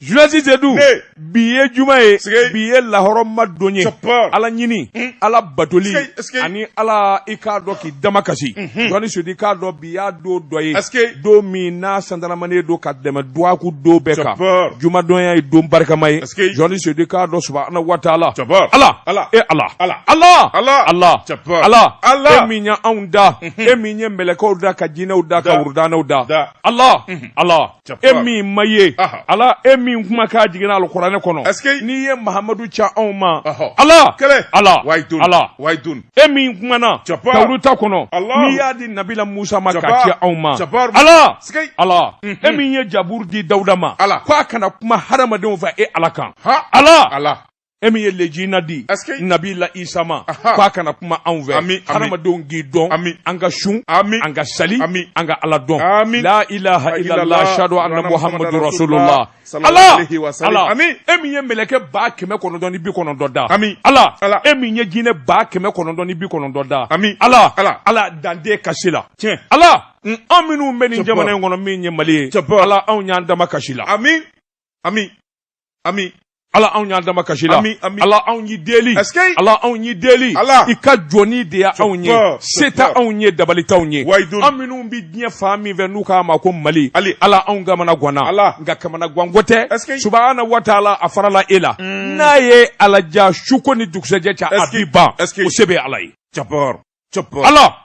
Julasi sedu bi ye juma ye bi ye lahɔrɔma don ye ala ɲini hmm. ala batoli ani ala i k'a dɔn k'i damakasi hmm. jɔnni sudi i k'a dɔn bi y'a don dɔ ye don min n'a sandalamani don ka tɛmɛ dɔgɔkun don bɛɛ kan jumadon y'a ye don barikama ye jɔnni sudi i k'a dɔn subahana wa taala ala e ala ala e min ye anw da hmm. e min ye mɛlɛkɛw da ka jinɛw da ka wurudanɛw da ala ala e min ma ye ala e min kuma ka jiginna alikuranɛ kɔnɔ n'i ye mahamadu ci anw ma ala ala ala e min kumana tawurata kɔnɔ n'i y'a di nabila musa ma k'a ci anw ma ala ala e min ye jaburu di dawuda ma ko a ka na kuma hadamadenw fɛ e ala kan ala ala e min ye lejina di nabila isa ma k'a ka na kuma anw fɛ hadamadenw k'i dɔn an ka sun an ka sali an ka ala dɔn la ilaha illallah ashhadu anna muhammadu rasulullah ala ala e min ye mɛlɛkɛ ba kɛmɛ kɔnɔntɔn ni bi kɔnɔntɔn da ala e min ye jinɛ ba kɛmɛ kɔnɔntɔn ni bi kɔnɔntɔn da ala ala dande kasi la tiɲɛ ala an minnu bɛ nin jamana in kɔnɔ min ye mali ye ala anw y'an damakasi i la ami ami ami ala anw y'an damakasi i la ami, ami. ala anw y'i deli ala anw y'i deli ala. i ka jɔn de ye anw ye se tɛ anw ye dabali t'anw ye an minnu bɛ diɲɛ fan min fɛ n'u k'a ma ko mali ala anw kamana ganna ala nka kamanaganko tɛ subahana wa taala a farala e la mm. n'a ye ala diya suko ni dugusɛjɛ cɛ a bɛ ban o se bɛ ala ye ala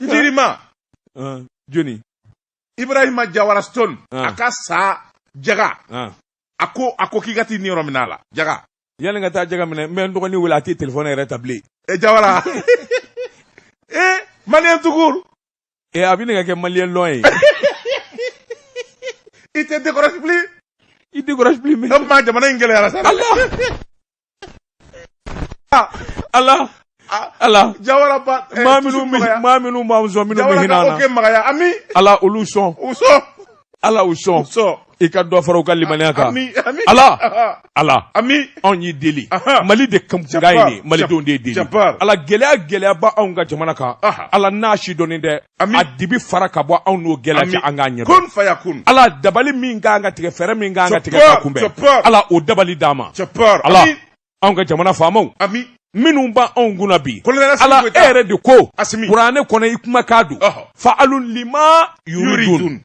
n terima joni ibrahima jawara stone a ka sa jaga a ko a ko k'i ka t'i niyɔrɔ minɛ a la jaga yanni n ka taa jaga minɛ n bɛ n dɔgɔnin wele a tɛ telefɔni yɛrɛ ta bilen e jawara e maliyɛn tukur e a bɛ ne ka kɛ maliyɛn lɔn ye i tɛ dekɔrɔsi bilen i dekɔrɔsi bilen mɛ jamana in gɛlɛyara sa ala ala jawara ba eh, maa minnu maa minnu b'an sɔn minnu bɛ hinɛ an na magaya ami ala olu sɔn u sɔn ala u sɔn sɔn i ka dɔ fara u ka limaniya kan ala ala ami anw y'i deli mali de kanpuga ye malidenw de ye deli ala gɛlɛya gɛlɛyaba anw ka jamana kan ala n'a sidɔnnen tɛ a dibi fara ka bɔ anw n'o gɛlɛya cɛ an k'a ɲɛ ala dabali min ka kan ka tigɛ fɛɛrɛ min ka kan ka tigɛ k'a kunbɛn ala o dabali d'an ma ala anw ka jamana faamaw minnu b'anw kunna bi ala e yɛrɛ de ko kuranɛ kɔnɔ i kumakan don faalun lima yuridu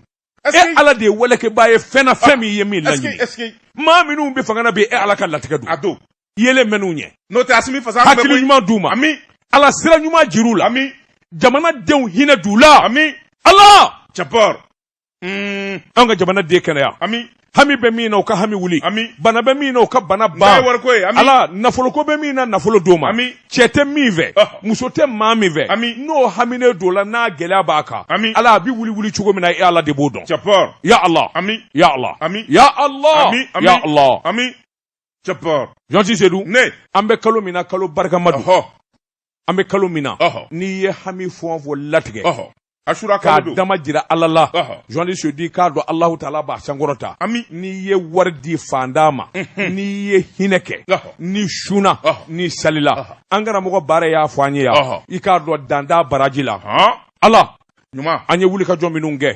e ala de ye walekɛba ye fɛn na fɛn ah, min ye min laɲini maa minnu bɛ fanga na bi e ala ka latigɛ don a don yelen mɛn'u ɲɛ n'o tɛ asimi fasa hakili ɲuman d'u ma ami ala sira ɲuman jir'u la ami jamana denw hinɛ d'u la ami ala jabbar hmm. an ka jamana den kɛnɛya ami hami bɛ min na o ka hami wuli bana bɛ min na o ka bana ban ala nafoloko bɛ min na nafolo d'o ma cɛ tɛ min fɛ muso tɛ maa min fɛ n'o haminen don la n'a gɛlɛya b'a kan ala a bɛ wuli wuli cogo min na e ala de b'o dɔn ya ala ya ala ya ala ya ala jabbar journaliste sedu an bɛ kalo min na kalo barikama an bɛ kalo min na n'i ye hami fɔ fɔ latigɛ asura k'a dama jira ala la journaliste sedu i k'a dɔn alahu taala b'a sankɔrɔta n'i ye wari di fantan ma n'i ye hinɛ kɛ ni sun ani sali la an karamɔgɔ bare y'a fɔ an ye yan i k'a dɔn dan t'a baraji la ala ɲuman an ye wuli ka jɔ minnu kɛ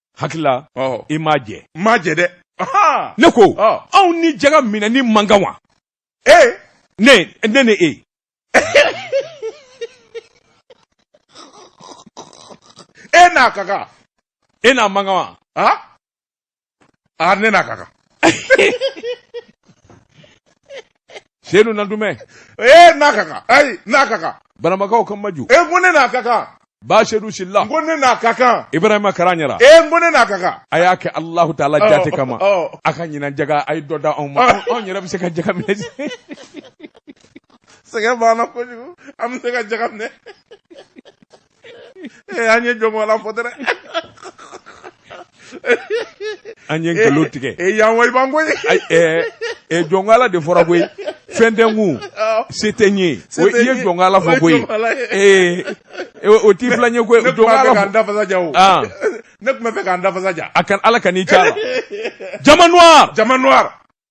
hakilila i m'a jɛ n m'a jɛ dɛ ne ko anw ni jaga minɛni man kan wa ee ne ne ni e e n'a ka kan e n'a man kan wa a ne n'a ka kan sedu nantumɛ e n'a ka kan ayi n'a ka kan banamakaw ka maju n ko ne n'a ka kan ba sedu silla ko ne n'a ka kan ibrahima karaɲara n ko ne n'a ka kan a y'a kɛ alahu taala jate kama a ka ɲinan jaga a ye dɔ da anw ma anw yɛrɛ bɛ se ka jaga minɛ sɛgɛn b'an na kojugu an bɛ se ka jaga minɛ an ye jɔnmɔgɔla fɔ dɛrɛ an ye nkalon tigɛ e yan wa i b'an koyi ɛ jɔnkala de fɔra koyi fɛn tɛ n kun se tɛ n ye o i ye jɔnkala fɔ koyi ee o t'i fila n ye koyi jɔnkala fɔ dafasa ja o ne tun b'a fɛ k'an dafasa ja a kan ala ka n'i ca la jama noir jama noir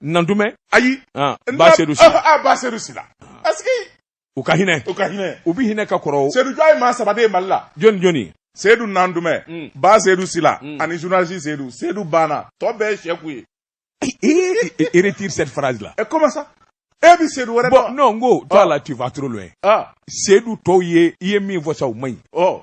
nantumɛ ayi ba sedu sila ah, ah, ba sedu sila parce que u ka hinɛ u ka hinɛ u bi hinɛ ka kɔrɔ sedu jɔ ye maa saba de ye mali la jɔn ni jɔn sedu nantumɛ mm. ba sedu sila mm. ani journaliste sedu sedu banna tɔ bɛɛ ye sɛku ye e retire cette phrase là e comment ça e bi sedu wɛrɛ dɔn non n ko toi là ah. tu vas trop loin sedu tɔw ye i ye min fɔ sa u man ɲi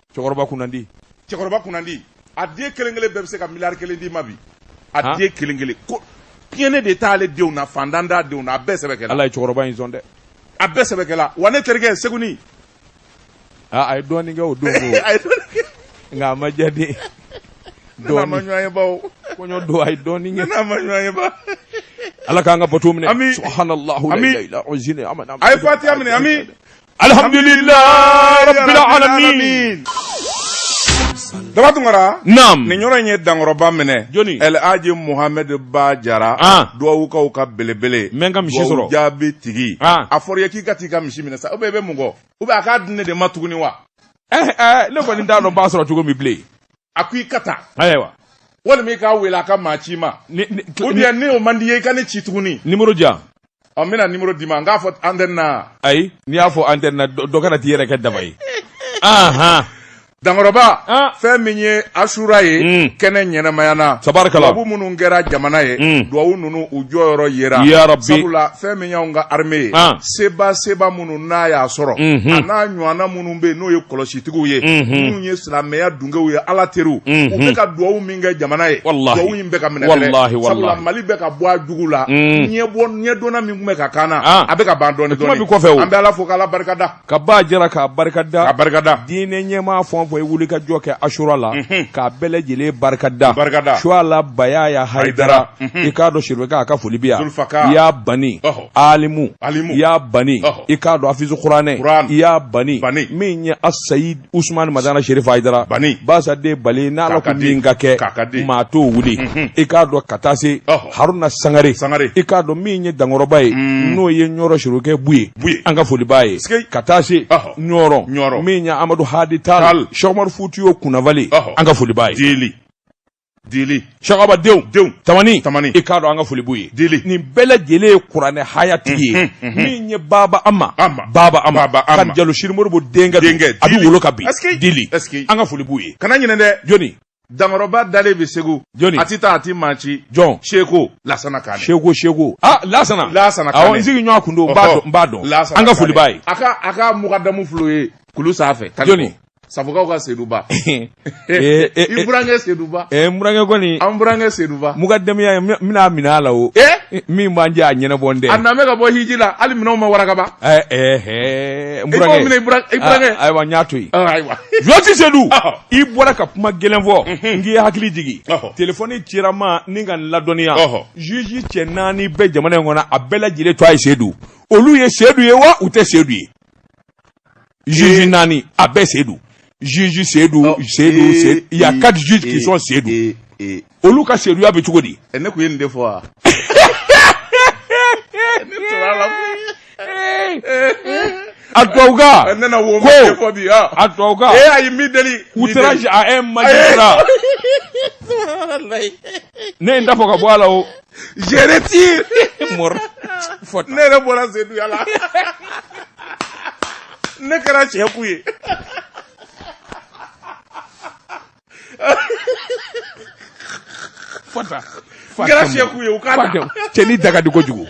cɛkɔrɔba kunnandi cɛkɔrɔba kunnandi a den kelen kelen bɛɛ bɛ se ka miliyari kelen d'i ma bi a den kelen kelen ko tiɲɛn de t'ale denw na fantan t'a denw na a bɛɛ sɛbɛkɛla ala ye cɛkɔrɔba in sɔn dɛ a bɛɛ sɛbɛkɛla wa ne terikɛ segu a ye dɔɔnin kɛ o don nka a ma jaabi don a ye ala k'an ka bato minɛ an a ye fatiya minɛ alhamdulilayi rabbil alamin daba tunkara naam nin yɔrɔ in ye dankɔrɔba minɛ jɔni el aji muhammed ba jara ah. duwawukaw ka belebele mɛ n ka misi sɔrɔ jaabi tigi ah. a fɔra i ye k'i ka t'i ka misi minɛ sa u bɛ i bɛ mun kɔ u bɛ a k'a di ne de ma tuguni wa eh, eh, ne kɔni t'a dɔn n b'a sɔrɔ cogo min bilen a ko i ka taa ayiwa walima i k'a wele a ka maa ci i ma ou bien n'o man di i ye i ka ne ci tuguni nimoro di yan ɔ n bɛna nimoro d'i ma n k'a fɔ antɛni na ayi n'i y'a fɔ antɛni na dɔ kana t'i yɛrɛ kɛ daba ye ahan dankɔrɔba ah. fɛn min ye asura ye mm. kɛnɛ ɲɛnamayana tabarikala duwawu minnu kɛra jamana ye mm. duwawu ninnu u jɔyɔrɔ yera yarabi sabula fɛn min y'anw ka arme ye ah. seba seba minnu n'a y'a sɔrɔ mm -hmm. a n'a ɲɔgɔnna minnu bɛ yen n'o ye kɔlɔsitigiw ye minnu ye silamɛya dungew ye ala teriw u bɛ ka duwawu min kɛ jamana ye duwawu in bɛ ka minɛ mali bɛ ka bɔ a jugu la ɲɛ bɔ ɲɛdɔnna min tun bɛ ka k'an na a bɛ ka ban dɔɔni dɔɔni kɔfɛ an bɛ ala fo k'ala barikada ka ba jara k'a barikada a barikada diinɛ ɲɛmaa fɛn o fɛn ye wuli ka jɔ kɛ asura la k'a bɛɛ lajɛlen barikada barikada suala bayaya hayidara i k'a dɔn serifukɛ an ka foli b'i ye i y'a bani alimu alimu i y'a bani i k'a dɔn afizu kuranɛ i y'a bani bani min ye asayid usumani madani sherifu hayidara bani basaden bali n'ala ko min ka kɛ maa t'o wuli mhm. i k'a dɔn ka taa se haruna sangare sangare i k'a dɔn min ye dankɔrɔba ye mm. n'o ye ɲɔrɔ serifukɛ buye buye an ka foli b'a ye ka taa se ɲɔrɔ ɲɔrɔ min ye amadu hadi tal seku umaru futiyu kunnafali an ka foli b'a ye Dili sagaba denw denw tamani tamani i k'a dɔn an ka foli b'u ye dili nin bɛɛ lajɛlen ye kuranɛ hayatigi ye min ye baba ama baba ama kane jalo sidi modibo denkɛ denkɛ a bɛ wolo ka bin dili an ka foli b'u ye kana ɲinɛ dɛ jɔni dankɔrɔba dalen bɛ segu jɔni a tɛ taa a tɛ maa ci jɔn seko lasana kane seko seko aa lasana lasana awɔ n sigi ɲɔgɔn kun don n b'a dɔn n b'a dɔn an ka foli b'a ye a ka a ka mukadamu fɔlɔ ye kulu sanfɛ jɔni Safokaw ka Seduba. Ee, ee, ee. I burankɛ Seduba. Ɛɛ n burankɛ kɔni. An burankɛ Seduba. Mukadamuya n bɛna minɛ a la o. Ee. Min b'an cɛ a ɲɛnabɔlen tɛ. A nalen bɛ ka bɔ hiji la hali minɛnw ma waraka ban. Ɛɛ ɛɛ ɛɛ n burankɛ. I b'o minɛ i burankɛ. I burankɛ. Aa ayiwa n y'a to yen. Ɔ ayiwa. Juge Sedu. Ɔhɔ. I bɔra ka kuma gɛlɛn fɔ. Unhun. N k'i hakili jigin. Ɔhɔ. Telefɔni cira n ma ni ka n ladɔnniya. Ɔhɔ. Juge cɛ naani bɛ jamana in kɔnɔ a bɛɛ lajɛlen tɔgɔ ye Sedu. Olu ye Sedu ye wa u tɛ Sedu ye. juge naani a bɛɛ se don juge se don se don se il y a quatre juges qui sont sedu olu ka seduya bɛ cogo di. ne kun ye nin de fɔ wa. a tubabuka ko a tubabuka ee ayi n b'i deli outrage à un magistrat ne ye n da fɔ ka bɔ a la o. Je retire mɔra fɔ ne yɛrɛ bɔra Seduya la ne kɛra Sɛku ye fɔta kɛra Sɛku ye u ka cɛnin da ka di kojugu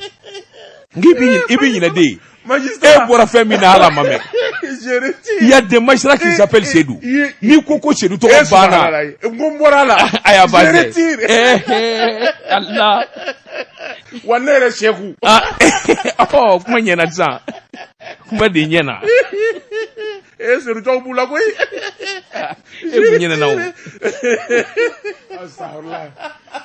n i bɛ ɲinɛ den magistrat e bɔra fɛn min na ala ma mɛn il y a des magistrats qui s'appellent Sédou n'i ko ko Sédou tɔgɔ banna n ko n bɔra a la a y'a ba tɛ Allah wa ne yɛrɛ Sɛku ɔ kuma ɲɛna sisan kuma de ɲɛna e Sédou tɔw b'u la koyi e kun ɲɛna o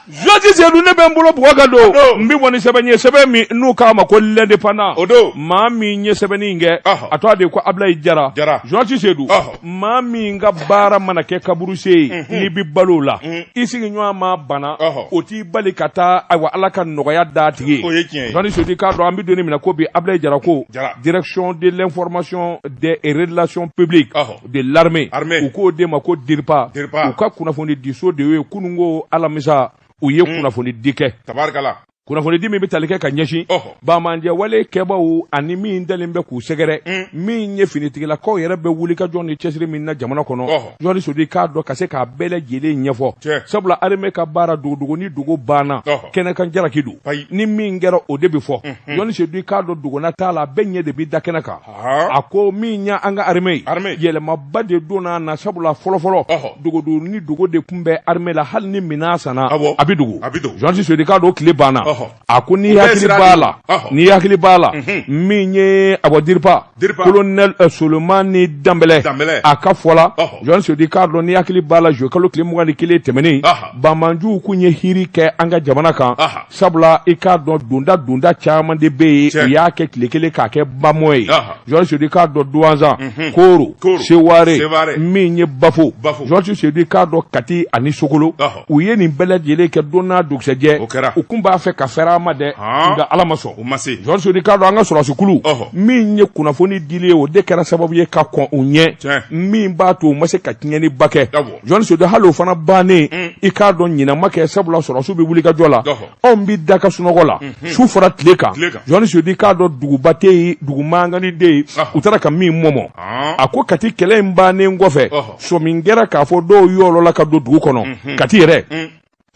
Jɔnsi Sedu ne bɛ n bolo bugɔ ka don n bɛ bɔ ni sɛbɛn ye sɛbɛn min n'u k'a ma ko L'Indépendant o don maa min ye sɛbɛnni in kɛ a tɔgɔ de ye ko Abilayi Jara Jara Jɔnsi Sedu maa min ka baara mana kɛ kaburusen ye n'i bɛ balo o la i sigiɲɔgɔn ma bana o t'i bali ka taa ayiwa Ala ka nɔgɔya d'a tigi ye o ye tiɲɛ ye Jɔnsi Sedu k'a dɔn an bɛ don min na ko bi Abilayi Jara ko direction de l'information des relations publiques de l'armée u k'o de ma ko DIRPA u ka kunnafoni diso de ye kununko alamisa u ye hmm. kunnafonidi kɛ tabarikala kunnafonidi min bɛ tali kɛ ka ɲɛsin banbaanci wale kɛbaw ani min dalen bɛ k'u sɛgɛrɛ hmm. min ye finitigilakaw yɛrɛ bɛ wulikajɔ ni cɛsiri min na jamana kɔnɔ Jɔnsi Sedu k'a dɔn ka se k'a bɛɛ lajɛlen ɲɛfɔ sabula armée ka baara dogodogo ni dogo banna kɛnɛkan jalaki don ni min kɛra o de bɛ fɔ Jɔnsi Sedu k'a dɔn dogona t'a la bɛɛ ɲɛ de bɛ da kɛnɛ kan a ko min ye an ka armée yɛlɛmaba de donna a na sabula fɔlɔfɔlɔ dogodo ni dogo de tun bɛ armée la hali ni minɛn sanna a bɛ dogo Jɔnsi Sedu k'a dɔn tile banna a ko n'i hakili b'a la n'i hakili b'a la mhm. min ye a bon DIRPA colonel Solomani Danbɛlɛ a ka fɔ la Jɔnsi Sedu k'a dɔn n'i hakili b'a la zuluye kalo tile mugan ni kelen tɛmɛnen banbaanciw tun ye hiri kɛ an ka jamana kan sabula i k'a dɔn donda donda caman de bɛ yen u y'a kɛ tile kelen k'a kɛ bamɔ ye Jɔnsi Sedu k'a dɔn Duwanzan mhm. Koro Seware min ye Bafo Jɔnsi Sedu k'a dɔn Kati ani Sokolo u ye nin bɛɛ lajɛlen kɛ don n'a dugusɛjɛ u kun b'a fɛ ka fɛɛrɛ ma dɛ nka ala ma sɔn Jɔnsi Sedu k'a dɔn an ka sɔrɔsikulu min ye kunnafoni dili ye o de kɛra sababu ye ka kɔn u ɲɛ min b'a to u ma se ka tiɲɛniba kɛ Jɔnsi Sedu hali o fana bannen mm. i k'a dɔn ɲinama kɛ sabula sɔrɔsiw bɛ wulikajɔ la anw bɛ da ka sunɔgɔ la mm-hmm. su fara tile kan Jɔnsi Sedu i k'a dɔn duguba tɛ yen dugu mankannin de ye u taara ka min mɔmɔ ah. a ko Kati kɛlɛ in bannen kɔfɛ sɔmi kɛra k'a fɔ dɔw yolila ka don dugu kɔnɔ mm-hmm. Kati yɛrɛ mm.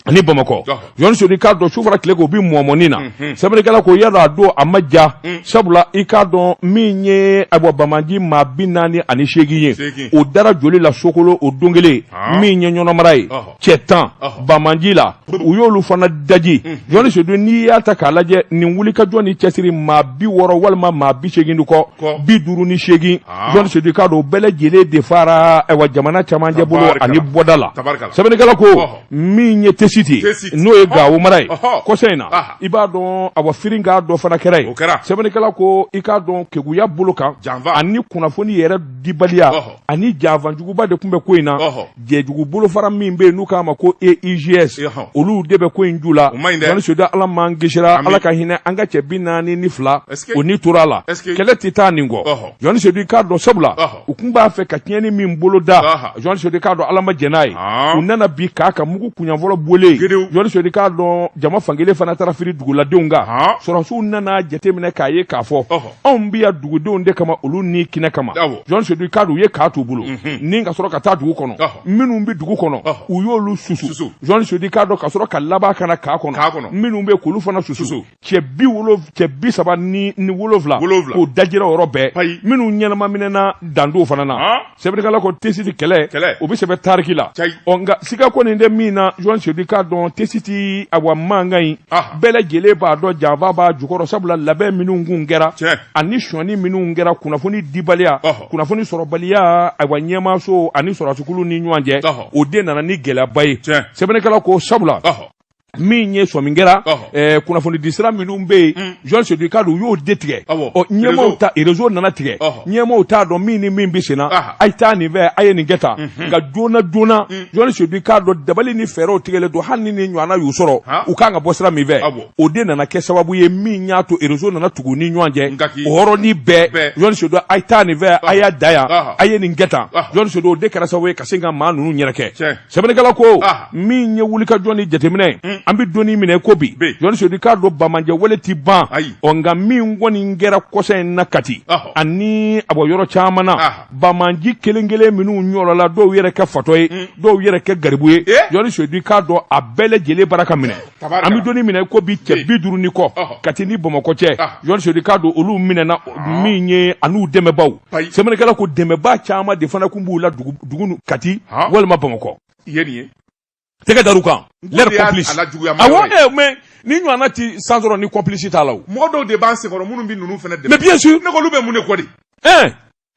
ani bamakɔ jɔn sedu i k'a dɔn su fara tile kan u bi mɔmɔni na mhm. sɛbɛnnikɛla ko i y'a dɔn a don a ma ja mm. sabula i k'a dɔn min ye ayiwa banbaanci maa bi naani ani seegin ye o dara joli la sokolo o don kelen ah. min ye ɲɔnɔ mara ye cɛ tan banbaanci la u y'olu fana daji mm. jɔn sedu n'i y'a ta k'a lajɛ nin wulikajɔ ni cɛsiri maa bi wɔɔrɔ walima maa bi seegin de kɔ bi duuru ni seegin ah. jɔn sedu i k'a dɔn o bɛɛ lajɛlen de faara ayiwa jamana cɛmancɛ bolo ani bɔda la sɛbɛnnikɛla ko min ye tesiti n'o ye gawo mara ye kɔsa in na i b'a dɔn awa firinka dɔ fana kɛra yen sɛbɛnnikɛla ko i k'a dɔn keguya bolo kan ani kunnafoni yɛrɛ dibaliya ani janfa juguba de kun bɛ ko in na jɛjugu bolofara min bɛ yen n'u k'a ma ko eigs olu de bɛ ko in ju la jɔni sedu ala m'an kisira ala ka hinɛ an ka cɛ bi naani ni fila o ni tora a la kɛlɛ tɛ taa nin kɔ jɔni sedu i k'a dɔn sabula u kun b'a fɛ ka tiɲɛni min bolo da Aha. jɔn sedu i k'a dɔn ala ma jɛn n'a ye Ah. u nana bin kan kan mugu kuɲa fɔlɔ bɔlen yen. jɔn sedu i k'a dɔn jama fankelen fana taara firi duguladenw kan Ah. sɔrɔsiw nana jateminɛ k'a ye k'a fɔ Ɔhɔ. anw bɛ yan dugudenw de kama olu ni kɛnɛ kama Awɔ. jɔn sedu i k'a dɔn u ye kan t'u bolo ni ka sɔrɔ ka taa dugu kɔnɔ Ɔhɔ. minnu bɛ dugu kɔnɔ Ɔhɔ. u y'olu susu Susu. jɔn sedu i k'a dɔn ka sɔrɔ ka laban ka na kan kɔnɔ Kan kɔnɔ. minnu bɛ kan olu fana susu Susu. cɛ bi wolo cɛ bi saba ni ni wolowula wolowula k'o dajira o yɔrɔ bɛɛ payi minnu ɲɛnama minɛna dandɔw fana na ah. sɛbɛnnikɛla ko tesiti kɛlɛ kɛlɛ o bɛ sɛbɛn tariki la cayi ɔ nka siga kɔni tɛ min na jɔn sedu i k'a dɔn tesiti awa mankan in ah. bɛɛ lajɛlen b'a dɔn janfa b'a jukɔrɔ sabula labɛn minnu kun kɛra tiɲɛ ani sɔnni minnu kɛra kunnafoni dibaliya oh. kunnafoni sɔrɔbaliya awa ɲɛmaaso ani sɔrɔsikulu ni ɲɔgɔn cɛ oh. o de nana ni gɛlɛyaba ye tiɲɛ sɛbɛnnikɛla ko sabula oh. min ye sɔmin kɛra eh, kunnafoni di sira minnu bɛ yen mm. jɔn sedu i k'a dɔn u y'o de tigɛ ɔ ɲɛmaaw ta rezo nana tigɛ ɲɛmaaw t'a dɔn min ni min bɛ senna a ye taa nin fɛ a ye nin kɛ tan mhm. nka joona joona mm. jɔn sedu i k'a dɔn dabali ni fɛɛrɛw tigɛlen don hali ni nin ɲɔgɔnna y'u sɔrɔ u kan ka bɔ sira min fɛ o de nana kɛ sababu ye min y'a to rezo nana tugu u ni ɲɔgɔn cɛ o yɔrɔnin bɛɛ jɔn sedu a ye taa nin fɛ a y'a da yan a ye nin kɛ tan jɔn sedu o de kɛra sababu ye ka se ka maa ninnu yɛrɛkɛ sɛbɛnnikɛla ko ah. min ye wulikajɔ ni jateminɛ hmm. an bɛ don min na i ko bi jɔni sedu i k'a dɔn banbaanciya wale tɛ ban ɔ nka min kɔni kɛra kɔsa in na kati ani a bɔ yɔrɔ caman na ah. banbaanci kelen kelen minnu ɲɔgɔnla dɔw yɛrɛ kɛ fatɔ ye hmm. dɔw yɛrɛ kɛ garibu ye eh? jɔni sedu i k'a dɔn a bɛɛ lajɛlen bara ka minɛ an bɛ don min na i ko bi cɛ bi duuru ni kɔ kati ni bamakɔ cɛ jɔni sedu i k'a dɔn olu minɛna ah. min ye an'u dɛmɛbaaw sɛbɛnnikɛla ko dɛmɛbaa caman de fana kun b'u la dugu kati walima bamakɔ tɛgɛ dar'u kan leur complice mais nin ɲɔgɔnna tɛ san sɔrɔ ni complice t'a la mɔgɔ dɔw de b'an senkɔrɔ minnu bɛ ninnu fana dɛmɛ mais bien sûr ne ko olu bɛ mun de kɔ de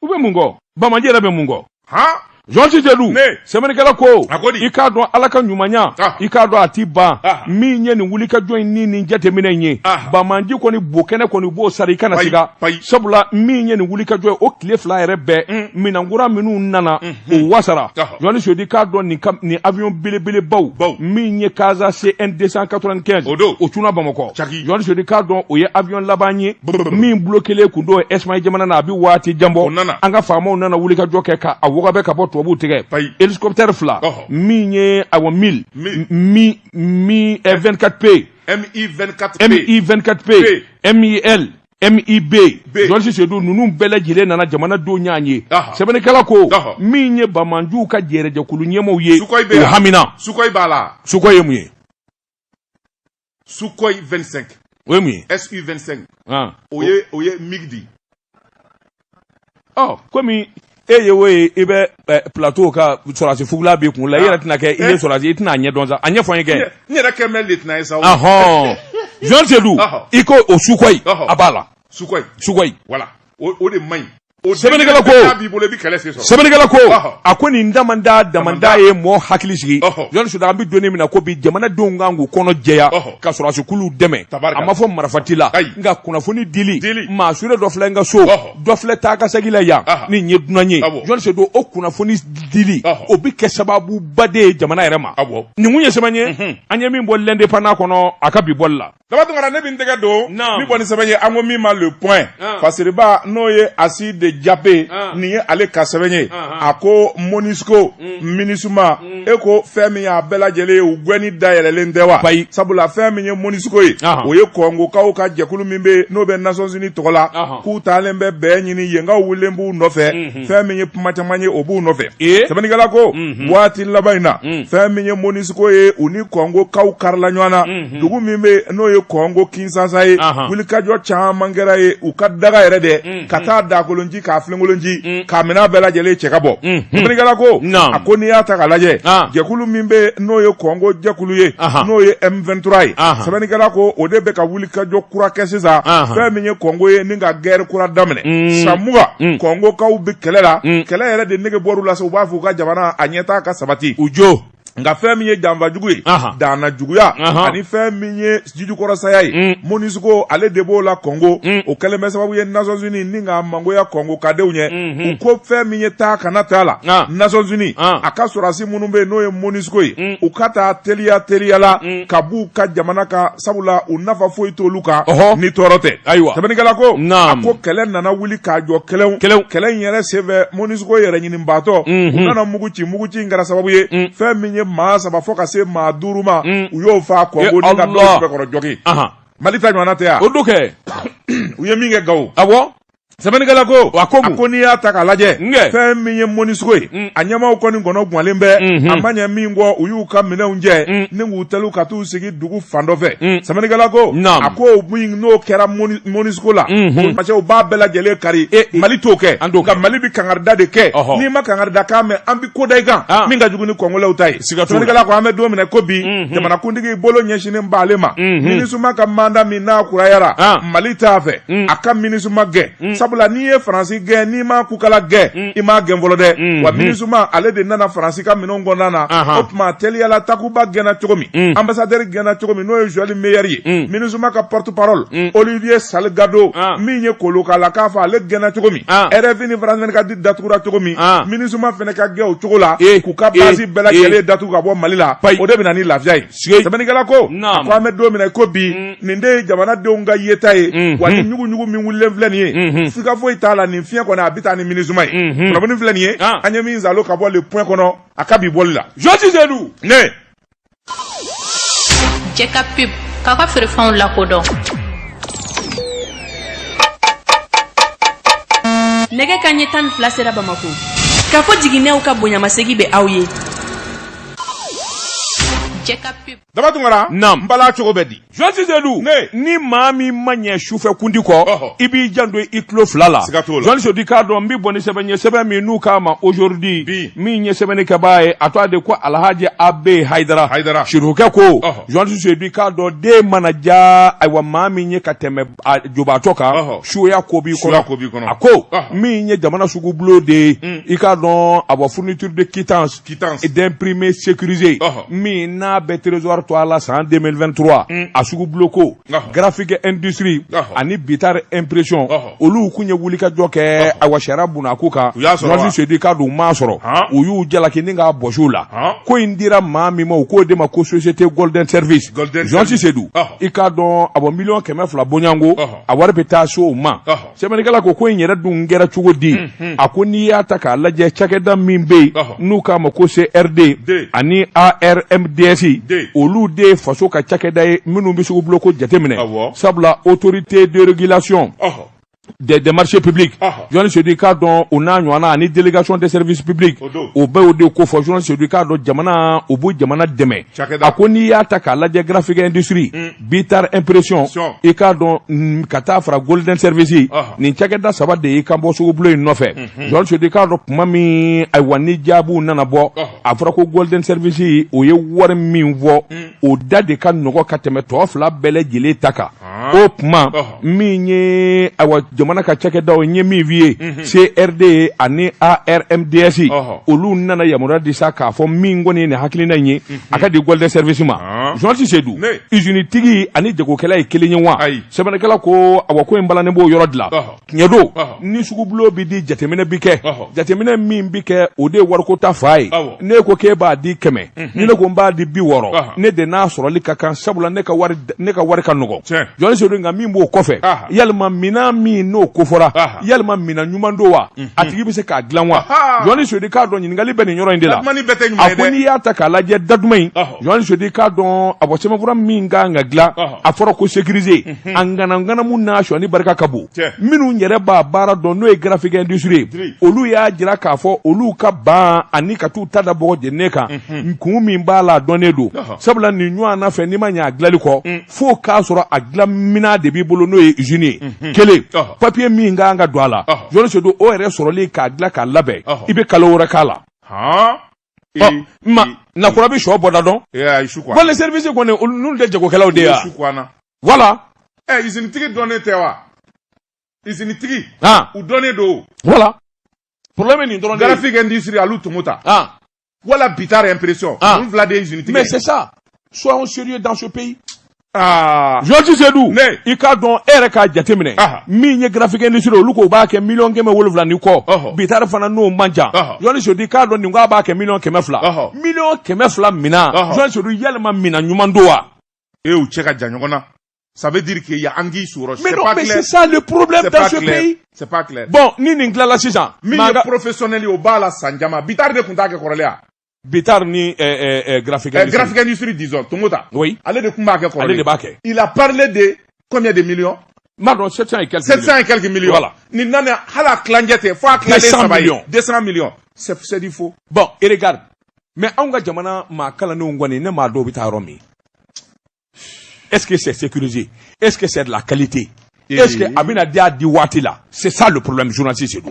u bɛ mun kɔ banbaanci yɛrɛ bɛ mun kɔ Jɔn Sedu sɛbɛnnikɛla ko i k'a dɔn ala ka ɲumanya ah. i k'a dɔn a t'i ban ah. min ye nin wulikajɔ in ni nin jateminɛ in ye ah. bamanji kɔni bo kɛnɛ kɔni b'o sara i kana siga sabula min ye nin wulikajɔ ye o tile fila yɛrɛ bɛɛ mm. minɛnkura minnu nana mm-hmm. o wasara Jɔn Sedu i k'a dɔn nin avion belebelebaw min ye Casa CN 295 o cunna bamakɔ Jɔn Sedu i k'a dɔn o ye avion laban ye min bloquelen tun don Espagne jamana na a bɛ waati jan bɔ an ka faamaw nana wulikajɔ kɛ ka a wɔgɔbɛ ka bɔ tubabu tigɛ hélicoptère fila min ye a Mil Mi 24P Mi 24P Mil Mi Jɔn Sedu ninnu bɛɛ lajɛlen nana jamana don ɲɔgɔn ye sɛbɛnnikɛla ko min ye bamananjuw ka jɛrɛjɛkulu ɲɛmaaw ye o hamina Sukhoi ye mun ye Sukhoi 25. O ye mun ye? SU 25. Ɔn. O ye o ye MIG de ye. Ɔ komi e ye o ye i bɛ eh, plateau ka sɔrɔdasi fugula b'i kun la i yɛrɛ tɛna kɛ i ye eh. sɔrɔdasi i tɛna a ɲɛdɔn sa a ɲɛfɔ n ye kɛ. N yɛrɛ kɛ mɛ lieutenant ye sa. Ɔhɔn. Jɔn Sedu i ko o Sukhoi a b'a la. Sukhoi. Sukhoi. Voilà o o de man ɲi. o sɛbɛnnikɛla ko b'i bolo i bɛ kɛlɛ sen sɔrɔ sɛbɛnnikɛla ko a ko nin damanda damanda ye mɔɔ hakili sigi Jɔn Sedu an bɛ don min na ko bi jamanadenw kan k'u kɔnɔ jɛya ka sɔrɔdasi kuluw dɛmɛ a ma fɔ marifa t'i la nka kunnafoni dili maa sure dɔ filɛ n ka so dɔ filɛ taa ka segin la yan ni nin ye dunan ye Jɔn Sedu o kunnafoni dili o bɛ kɛ sababuba de ye jamana yɛrɛ ma nin kun ye sɛbɛn ye an ye min bɔ L'Indépendant kɔnɔ a ka bi bɔli la Daba Tunkara ne bɛ n tɛgɛ don ni kɔni sɛbɛn ye an ko min ma le point ah. fasiriba n'o ye asi de jape ah. nin ye ale ka sɛbɛn ye ah, a ko MONUSCO mm. MINUSMA mm. e ko fɛn min y'a bɛɛ lajɛlen ye u gɛnni dayɛlɛlen tɛ wa bayi sabula fɛn min ye MONUSCO ye o ye kɔngokaw ka jɛkulu min bɛ yen n'o bɛ nations unies tɔgɔ la k'u taalen bɛ bɛn ɲini yenkaw wulilen b'u nɔfɛ mm-hmm. fɛn min ye kuma caman ye o b'u nɔfɛ eh? sɛbɛnnikɛla ko mm-hmm. waati laban in na mm. fɛn min ye MONUSCO ye u ni kɔngokaw karila ɲɔgɔn na Hmm. dugu min bɛ n'o ye Kɔngo Kinshasa ye wulikajɔ caman kɛra yen u ka daga yɛrɛ dɛ hmm, hmm. ka taa dakolon ci ka filenkolon ci ka minɛn bɛɛ lajɛlen cɛ ka bɔ sɛbɛnnikɛla ko a ko n'i y'a ta k'a lajɛ ah. jɛkulu min bɛ n'o ye Kɔngo jɛkulu ye n'o ye M23 ye sɛbɛnnikɛla ko o de bɛ ka wulikajɔ kura kɛ sisan fɛn min ye Kɔngo ye ni ka guerre kura daminɛ san mugan Kɔngokaw bɛ kɛlɛ la kɛlɛ yɛrɛ de nege bɔr'u la u b'a fɛ u ka jamana a ɲɛtaa ka sabati u jo nka fɛn min ye janfa jugu ye danna juguya ani fɛn min ye jijukɔrɔsaya ye mm. MONUSCO ale de b'o la kɔngo mm. o kɛlen bɛ sababu ye Nations Unies ni ka mangoya kɔngo ka denw ɲɛ mm-hmm. u ko fɛn min ye taa kana t'a la Nations Unies a ka sɔrɔdasi minnu bɛ yen n'o ye MONUSCO ye mm. u ka taa teliya teliya la ka b'u ka jamana kan sabula u nafa foyi t'olu kan ni tɔɔrɔ tɛ ayiwa sɛbɛnnikɛla ko a ko kɛlɛ nana wuli k'a jɔ kɛlɛw kɛlɛw kɛlɛ in yɛrɛ senfɛ MONUSCO yɛrɛ ɲini batɔ u nana mugu ci mugu ci in kɛra sababu ye fɛn min ye maa saba fo ka se maa duuru ma u y'o faa kɔngo ni ka dɔw sɛbɛkɔrɔ jogin mali ta ɲɔgɔnna tɛ yan o don kɛ u ye min kɛ gawo a sɛbɛnnikɛla ko a ko ko n'i y'a ta k'a lajɛ fɛn min ye monusco ye mm. a ɲɛmaaw kɔni kɔnɔ gwanlen bɛ mm-hmm. a ma ɲɛ min kɔ u y'u ka minɛnw cɛ mm. ni k'u tɛrun ka t'u sigi dugu fan dɔ fɛ sɛbɛnnikɛla ko a ko min n'o kɛra monusco la parce u b'a bɛɛ lajɛlen kari mali t'o kɛ nka mali bɛ kangarida de kɛ n'i ma kangarida kan mɛn an bɛ ko da i kan min ka jugu ni kɔngolɛw ta ye sɛbɛnnikɛla ko an bɛ don min na i ko bi jamanakuntigi bolo ɲɛsinnen b'ale ma minusma ka mandat min n'a kurayara mali t'a fɛ a ka minusma gɛn sabula n'i ye faransi gɛn n'i ma kukala gɛn i m'a gɛn fɔlɔ dɛ wa minusma ale de nana faransi ka minɛn kɔnɔna na o tuma teliyala takuba gɛnna cogo min ambassadeur gɛnna cogo min n'o ye joël meyer ye minusma ka porte-parole olivier salgado min ye kolo k'a la k'a fɔ ale gɛnna cogo min rfi ni france 24 datugura cogo min minusma fana ka gɛn o cogo la k'u ka base bɛɛ lajɛlen datugu ka bɔ mali la o de bɛ na ni lafiya ye sɛbɛnnikɛla ko a ko an bɛ don min na i ko bi mm. nin de ye jamanadenw ka yeta ye mm-hmm. wa ni ɲuguɲugu min wulilen filɛ nin ye mm-hmm. sika foyi t'a la nin fiɲɛ kɔni a bɛ taa ni minusma ye mm-hmm. kunnafoni filɛ nin ye ah. an ye min zalo ka bɔ le point kɔnɔ a ka bi bɔli la journaliste seydou ne jɛka pub k'a ka feerefɛnw lakodɔn nɛgɛ kanɲɛ tan ni fila sera bamakɔ k'a fɔ jiginnenw ka bonyamasegin bɛ aw ye daba tunkara n bala cogo bɛ di journaliste seydou ni maa min ma ɲɛ sufɛ kundi kɔ i b'i janto i tulo fila la journaliste seydou i k'a dɔn n bɛ bɔ ni sɛbɛn ye sɛbɛn min n'u k'a ma aujourd'hui min ye sɛbɛnni kɛbaa ye a tɔgɔ de ko alhaji abe hayidara sirifukɛ ko journaliste seydou i k'a dɔn den mana ja ayiwa maa min ye ka tɛmɛ jobaatɔ kan suya ko b'i kɔnɔ a ko min ye jamana sugu bulon de ye i k'a dɔn awa fourniture de quittance quittance d'imprimé sécurisé Ɔhɔ. min n'a bɛ trésor tɔgɔ la san 2023 a sugu buloko Ɔhɔ. graphique industrie Ɔhɔ. ani bitar impression Ɔhɔ. olu tun ye wulikajɔ kɛ awa sariya buna ko kan U y'a sɔrɔ wa? Journaliste Seydou i k'a dɔn u m'a sɔrɔ Han. u y'u jalaki ni k'a bɔsi u la Han. ko in dira maa min ma u k'o de ma ko société golden service Golden Service. Journaliste Seydou Ɔhɔ. i k'a dɔn a bɔ miliyɔn kɛmɛ fila bɔɲɔgɔnko Ɔhɔ. a wari bɛ taa se o ma Ɔhɔ. sɛbɛnnikɛla ko ko in yɛrɛ dun kɛra cogo di mhm. a ko n'i y'a ta k'a lajɛ cakɛda min bɛ yen n'u k'a ma ko crd ani armds olu de ye faso ka cakɛda ye minnu bɛ sugu buloko jateminɛ sabula autorité de régulation des marchés publics journaliste seydou i k'a dɔn o n'a ɲɔgɔnna ani délégation des services publics o bɛ o de kɔfɔ journaliste seydou i k'a dɔn jamana u b'u jamana dɛmɛ a ko n'i y'a ta k'a lajɛ graphique industrie mm. Bitar impression Sɔn. i k'a dɔn mm, ka taa fara golden service Ɔhɔ. nin cakɛda saba de y'i kan bɔ sugubulon in nɔfɛ journaliste Sedu i k'a dɔn kuma min ayiwa ni jaabiw nana bɔ Ɔhɔ. a fɔra ko golden service o ye wari min fɔ o da de ka nɔgɔ ka tɛmɛ tɔ fila bɛɛ lajɛlen ta kan Ah. o tuma Ɔhɔ. min ye ayiwa jamana ka cakɛdaw ye min f'i ye crd ani armds Ɔhɔ. olu nana yamaruya di sa k'a fɔ min kɔni ye nin hakilina in ye a ka di golden service ma ah. journaliste Sedu usine tigi ani jagokɛla ye kelen ye wa sɛbɛnnikɛla ko awa ko in balannen b'o yɔrɔ de la tiɲɛ don ni sugubulon bi di jateminɛ bi kɛ jateminɛ min bi kɛ o de ye wariko ta fan ye n'e ko k'e b'a di kɛmɛ mhm. ni ne ko n b'a di bi wɔɔrɔ ne de n'a sɔrɔli ka kan sabula ne ka wari ka nɔgɔn journaliste Sedu nka min b'o kɔfɛ yalima minan min n'o kofɔra yalima minan ɲuman don wa a tigi bɛ se k'a dilan wa journaliste Sedu k'a dɔn ɲininkali bɛ nin yɔrɔ in de la a ko n'i y'a ta k'a lajɛ da duman in journaliste Sedu k'a dɔn a bɔ sɛbɛnfura min ka kan ka dilan a fɔra ko sécurisé mhm. a ngananganamu n'a sonyɛni barika ka bon minnu yɛrɛ b'a baara dɔn n'o ye graphique industrie ye olu y'a jira k'a fɔ olu ka ban ani ka t'u ta da bɔgɔ jeninen kan mhm. kun min b'a la a dɔnnen don sabula nin ɲɔgɔnna fɛn i ma ɲɛ a dilanli kɔ mm. fo k'a sɔrɔ a dilanminan de b'i bolo n'o ye usine ye mhm. kelen papier min ka kan ka don a la journaliste Sedu o yɛrɛ sɔrɔli k'a dilan k'a labɛn i bɛ kalo wɔɔrɔ k'a la maa nakura bɛ so bɔda dɔn golden service kɔni n'olu tɛ jagokɛlaw de ye wala ɛ usine tigi dɔnnen tɛ wa usine tigiw dɔnnen don voilà problème nin dɔrɔn de ye graphique industrie Alu Tomota Voilà Bitar impression. Ah. Voilà des usine tigi. Mais c'est ça. Soyons sérieux dans ce pays. Ah. Georges Sedou, i k'a dɔn e yɛrɛ k'a jateminɛ ah. min ye graphique industrie olu k'u b'a kɛ miliyɔn kɛmɛ wolonwula ni kɔ oh. Bitar fana n'o man jan journaliste Sedu i k'a dɔn nin k'a b'a kɛ miliyɔn kɛmɛ fila oh. miliyɔn kɛmɛ fila minan journaliste Sedu yalima minan ɲuman don wa eh u cɛ ka jan ɲɔgɔn na Ça veut dire qu'il y a Anguille sous roche. Mais non, mais c'est ça le problème dans ce pays. C'est pas clair. Bon, nin in na sisan. Min ye professionnel ye o b'a la san caman. Bitar de tun t'a kɛ kɔrɔlen Bitar ni eh, eh, eh, graphique industrie. graphique industrie disons, Tomota. Oui. Ale de tun b'a kɛ kɔrɔlen. Ale de b'a kɛ. Il a parlé de combien de millions? N m'a dɔn 700 et quelques 700 et quelques millions. Voilà. Nin nanen hali a tilancɛ tɛ fo a tilancɛ saba ye. 200 millions. C'est du faux. Bon, et regarde. Mais anw ka jamana maa kalannenw kɔni ne m'a dɔn u bɛ taa yɔrɔ min. est ce que c'est sécurisé est ce que c'est de la qualité est ce que a bɛna di a di waati la c'est ça le problème journaliste Sedu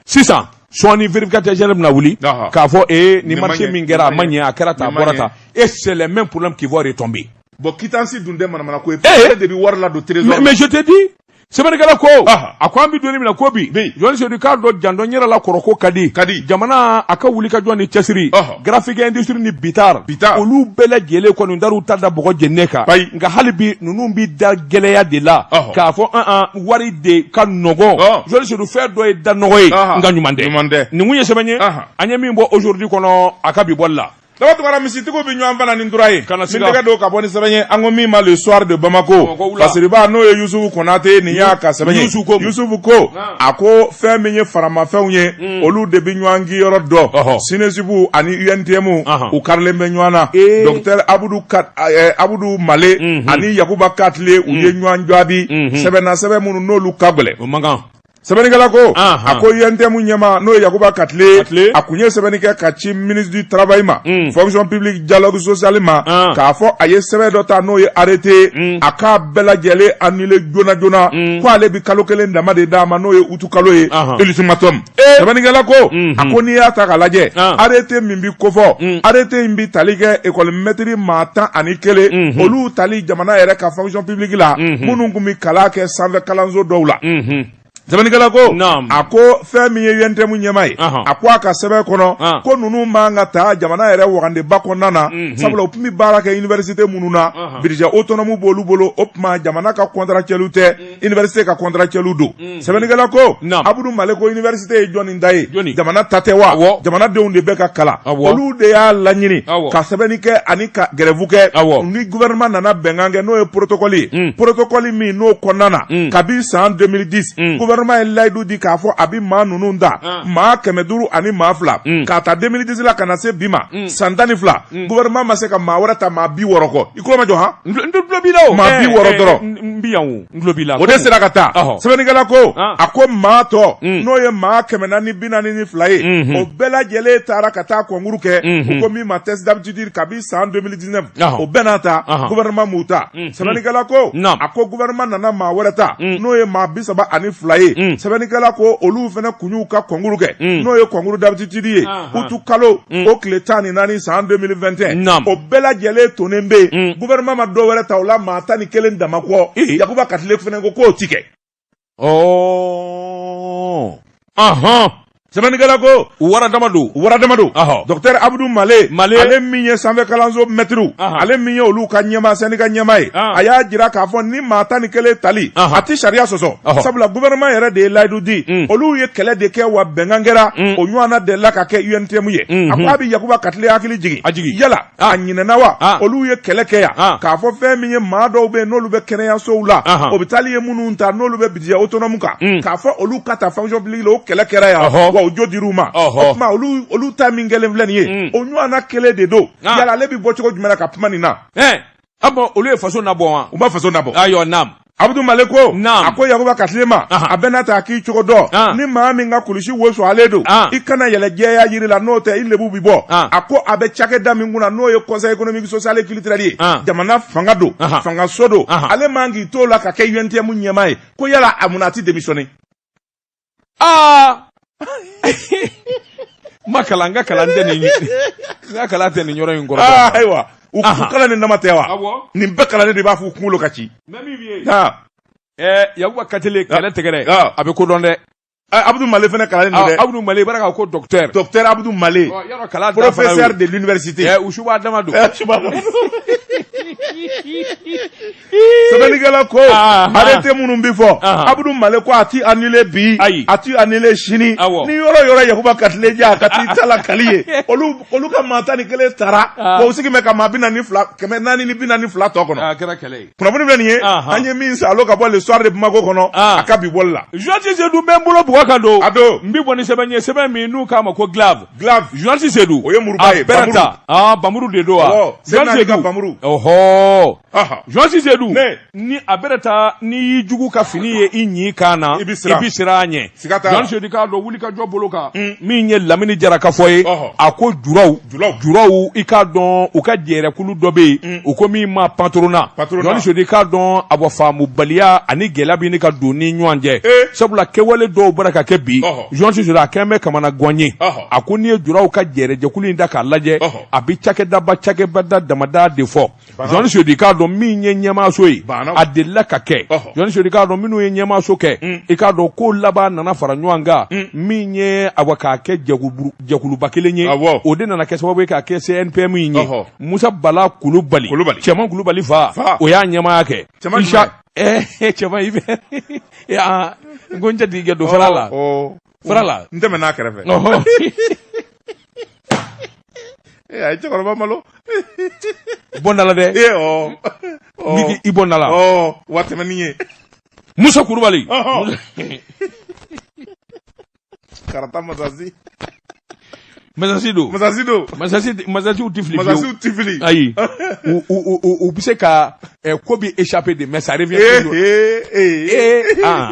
sisan sɔɔni vérificateur général bɛna wuli k'a fɔ ee nin marché min kɛra a ma ɲɛ a kɛra tan a bɔra tan et c'est le même problème qui va retomber bon quittance dun tɛ manamana ko ye e de bɛ wari ladon trésor mais je te dis sɛbɛnnikɛla ko a ko an bɛ don min na ko bi jɔni sedu k'a dɔn jandɔn yɛrɛ la kɔrɔ ko ka di ka di jamana a ka wuli ka jɔ ni cɛsiri graphique industrie ni bitar bitar olu bɛɛ lajɛlen kɔni dar'u ta da bɔgɔ jɛnɛ kan bayi nka hali bi ninnu bɛ da gɛlɛya de la k'a fɔ an an wari de ka nɔgɔ jɔni sedu fɛn dɔ ye da nɔgɔ ye nka ɲuman tɛ ɲuman tɛ nin kun ye sɛbɛn ye an ye min bɔ aujourd'hui kɔnɔ a ka bi bɔli la daba tugara misitigiw bɛ ɲɔgɔn fana ni tura ye Kana ni siga. tɛgɛ don ka bɔ ni sɛbɛn ye an ko min ma le soir de bamako Bamakɔ wula. fasiriba n'o ye yusufu konate nin y'a ka sɛbɛn ye Yusufu ko mun? yusufu ko a ko fɛn min ye faramafɛnw ye olu de bɛ ɲɔgɔn kin yɔrɔ dɔn Ɔhɔ. SNESUP ani UNTM Ahan. u karilen bɛ ɲɔgɔn na Ee. docteur abudu Ka- eh, abudu male ani yakuba katile u ye ɲɔgɔn jaabi sɛbɛnna sɛbɛn minnu n'olu ka gɛlɛn o man kan sɛbɛnnikɛla ko a ko UNTM ɲɛmaa n'o ye yakuba katile a kun ye sɛbɛnni kɛ ka ci ministre du travail ma mm. fonction publique dialogue social ma k'a fɔ a ye sɛbɛn dɔ ta n'o ye arrêté mm. a k'a bɛɛ lajɛlen annuler joona joona mm. ko ale bi kalo kelen dama de d'a ma n'o ye utu kalo ye ultimatum eh. sɛbɛnnikɛla ko a mm-hmm. ko n'i y'a ta k'a lajɛ arrêté min bi kofɔ arrêté in bi tali kɛ école mɛtiri maa tan ani kelen mm-hmm. olu tali jamana yɛrɛ ka fonction publique la minnu tun bɛ kalan kɛ sanfɛ kalanso dɔw la Sɛbɛnnikɛla ko, naamu, a ko fɛn min ye UNTM ɲɛmaa ye, anhan, a ko a ka sɛbɛn kɔnɔ, an, ko ninnu man ka ta jamana yɛrɛ wagandeba kɔnɔna na, unhun, sabula u tun bɛ baara kɛ université minnu na, anhan, budget autonome b'olu bolo o tuma jamana ka contractuels tɛ université ka contractuels don sɛbɛnnikɛla ko abudu male ko iniversite ye jɔni ta ye jamana ta tɛ wa jamanadenw de bɛ ka kalan olu de y'a laɲini ka sɛbɛnni kɛ ani ka gɛrɛfu kɛ ni gouvernement nana bɛnkan kɛ n'o ye protokɔli ye hmm. protokɔli min n'o kɔnɔna na hmm. kabi san 2010 hmm. gouvernement ye layidu di k'a fɔ a bɛ maa ninnu ta ah. maa kɛmɛ duuru ani maa fila k'a ta 2010 la ka na se bi ma san tan ni fila gouvernement ma se ka maa wɛrɛ ta maa bi wɔɔrɔ kɔ i tulo majɔ han n tulo b'i la o maa bi eh, wɔɔrɔ eh, dɔrɔn n bi yan o o de sera ka ta sɛbɛnnikɛla ko a ko maa tɔ mm. n'o ye maa kɛmɛ naani bi naani ni fila ye mm-hmm. o bɛɛ lajɛlen taara ka taa kɔnkuru kɛ mm-hmm. ko min ma test d'aptitude kabi san 2019 o bɛɛ n'a ta gouvernement m'u ta mm-hmm. sɛbɛnnikɛla ko a ko gouvernement nana maa wɛrɛ ta mm. n'o ye maa bi saba ani fila ye mm. sɛbɛnnikɛla ko olu fana kun y'u ka kɔnkuru kɛ n'o ye kɔnkuru d'aptitude ye utu kalo mm. o tile tan ni naani san 2021 o bɛɛ lajɛlen tonen bɛ yen mm. gouvernement ma dɔ wɛrɛ ta o la maa tan ni kelen dama kɔ yakuba katile fana ko k'o ti kɛ oh. sɛbɛnnikɛla ko wara dama don wara dama don dɔktɛr abudu male male ale min ye sanfɛ kalanso mɛtiriw ale min ye olu ka ɲɛmaa syndicat ɲɛmaa ye a y'a jira k'a fɔ ni maa tan ni kelen tali a tɛ sariya sɔsɔ sabula gouvernement yɛrɛ de ye layidu di mm. olu ye kɛlɛ de kɛ wa bɛnkan kɛra mm. o ɲɔgɔn de la ka kɛ UNTM ye mm-hmm. a ko a bɛ yakuba katile hakili jigin a jigin yala a ɲinɛna wa olu ye kɛlɛ kɛ yan k'a fɔ fɛn min ye maa dɔw bɛ n'olu bɛ kɛnɛyasow la hôpital ye minnu ta n'olu bɛ budget autonome kan mm. k'a fɔ olu ka taa fonction publique la o kɛlɛ kɛra yan wa o jo dira u ma o tuma olu ta min kɛlen filɛ nin ye o ɲɔgɔn kelen de don yala ale bɛ bɔ cogo jumɛn ka kuma nin na A bɔn olu ye faso na bɔ wa u ma faso na bɔ ayiwa naamu abudu male ko a ko yakuba katile ma a bɛna taa k'i cogo dɔn ni maa min ka kulusi wo sɔgɔlen don i kana yɛlɛn jɛya jiri la n'o tɛ i lebu bɛ bɔ a ko a bɛ cakɛda min kunna n'o ye conseil économique social et culturel ye jamana fanga don fangaso don ale man k'i to la ka kɛ UNTM ɲɛmaa ye ko yala a mun a tɛ démissionner aa ma kalan n ka kalan tɛ nin n ka kalan tɛ nin yɔrɔ in kɔrɔ aa ayiwa u Aha. kalannen dama tɛ wa awɔ nin bɛɛ kalannen de b'a fɔ u kunkolo ka ci mɛ min ye ha ɛɛ yakuba katile kɛlɛ tɛgɛrɛ Ah. a bɛ kodɔn dɛ abudu male fana kalannen don dɛ abudu male i b'a dɔn k'a ko docteur docteur abudu male Ɔ, yɔrɔ kalan danfara y'o ye. professeur de l'université Ɛɛ, u suba dama don Eh, subahana. sɛbɛnnikɛla ko arrêté minnu bɛ fɔ Abudu Male ko a ti annulé bi a ti annulé sini ni yɔrɔ yɔrɔ Yakuba Katile ja ka t'i ta la kali ye olu olu ka maa tan ni kelen tara wa u sigi bɛ ka maa bi naani fila kɛmɛ naani ni bi naani fila tɔ kɔnɔ a kɛra kɛlɛ ye kunnafoni filɛ nin ye an ye min san alo ka bɔ le soir de Bamako kɔnɔ a ka bi bɔli la journaliste Sedu bɛ n bolo bɔgɔ kan don a don n bɛ bɔ ni sɛbɛn ye sɛbɛn min n'u k'a ma ko glaive glaive journaliste Sedu o ye muruba ye bamuru a bɛrɛ ta bamuru de don wa journaliste Sedu ka bamuru ɔhɔɔ journaliste sedu ni a bɛrɛ ta n'i y'i jugu ka fini ye i ɲin kan na i bɛ siran a ɲɛ journaliste sedu k'a dɔn wuli ka jɔ bolo kan mm. min ye lamini jara ka fɔ ye a ko juraw juraw i k'a dɔn u ka jɛrɛkulu dɔ bɛ yen mm. u ko min ma patronat journaliste sedu k'a dɔn a bɔ faamubaliya ani gɛlɛya bɛ ni ka don ni ɲɔgɔn cɛ eh. sabula kɛwale dɔw b'a la ka kɛ bi journaliste sedu a kɛlen bɛ kamanagan ye a ko n'i ye juraw ka jɛrɛjɛkulu in da k'a lajɛ a bɛ cakɛdaba cakɛbada damada de fɔ journaliste sedu k'a dɔn min ye ɲɛmaaso ye a delila ka kɛ journaliste sedu k'a dɔn minnu ye ɲɛmaaso kɛ mm. i k'a dɔn k'u laban nana fara ɲɔgɔn kan mm. min ye awa k'a kɛ jɛkuluba kelen ye o de nana kɛ sababu ye k'a kɛ cnpm in ye musa bala kulubali cɛman kulubali fa o y'a ɲɛmaaya kɛ cɛman Hubert ko n jatigikɛ don fara la fara la n tɛmɛ n'a kɛrɛfɛ a ye cɛkɔrɔba malo bɔndala dɛ i bɔndala wa tɛmɛni ye Musa Kulubali karata masasi masasi don masasi don masasi masasiw tɛ fili masasiw tɛ fili ayi u u u u bɛ se ka k'u bɛ échapper dɛ mais ça revient toujours ee ee ee aa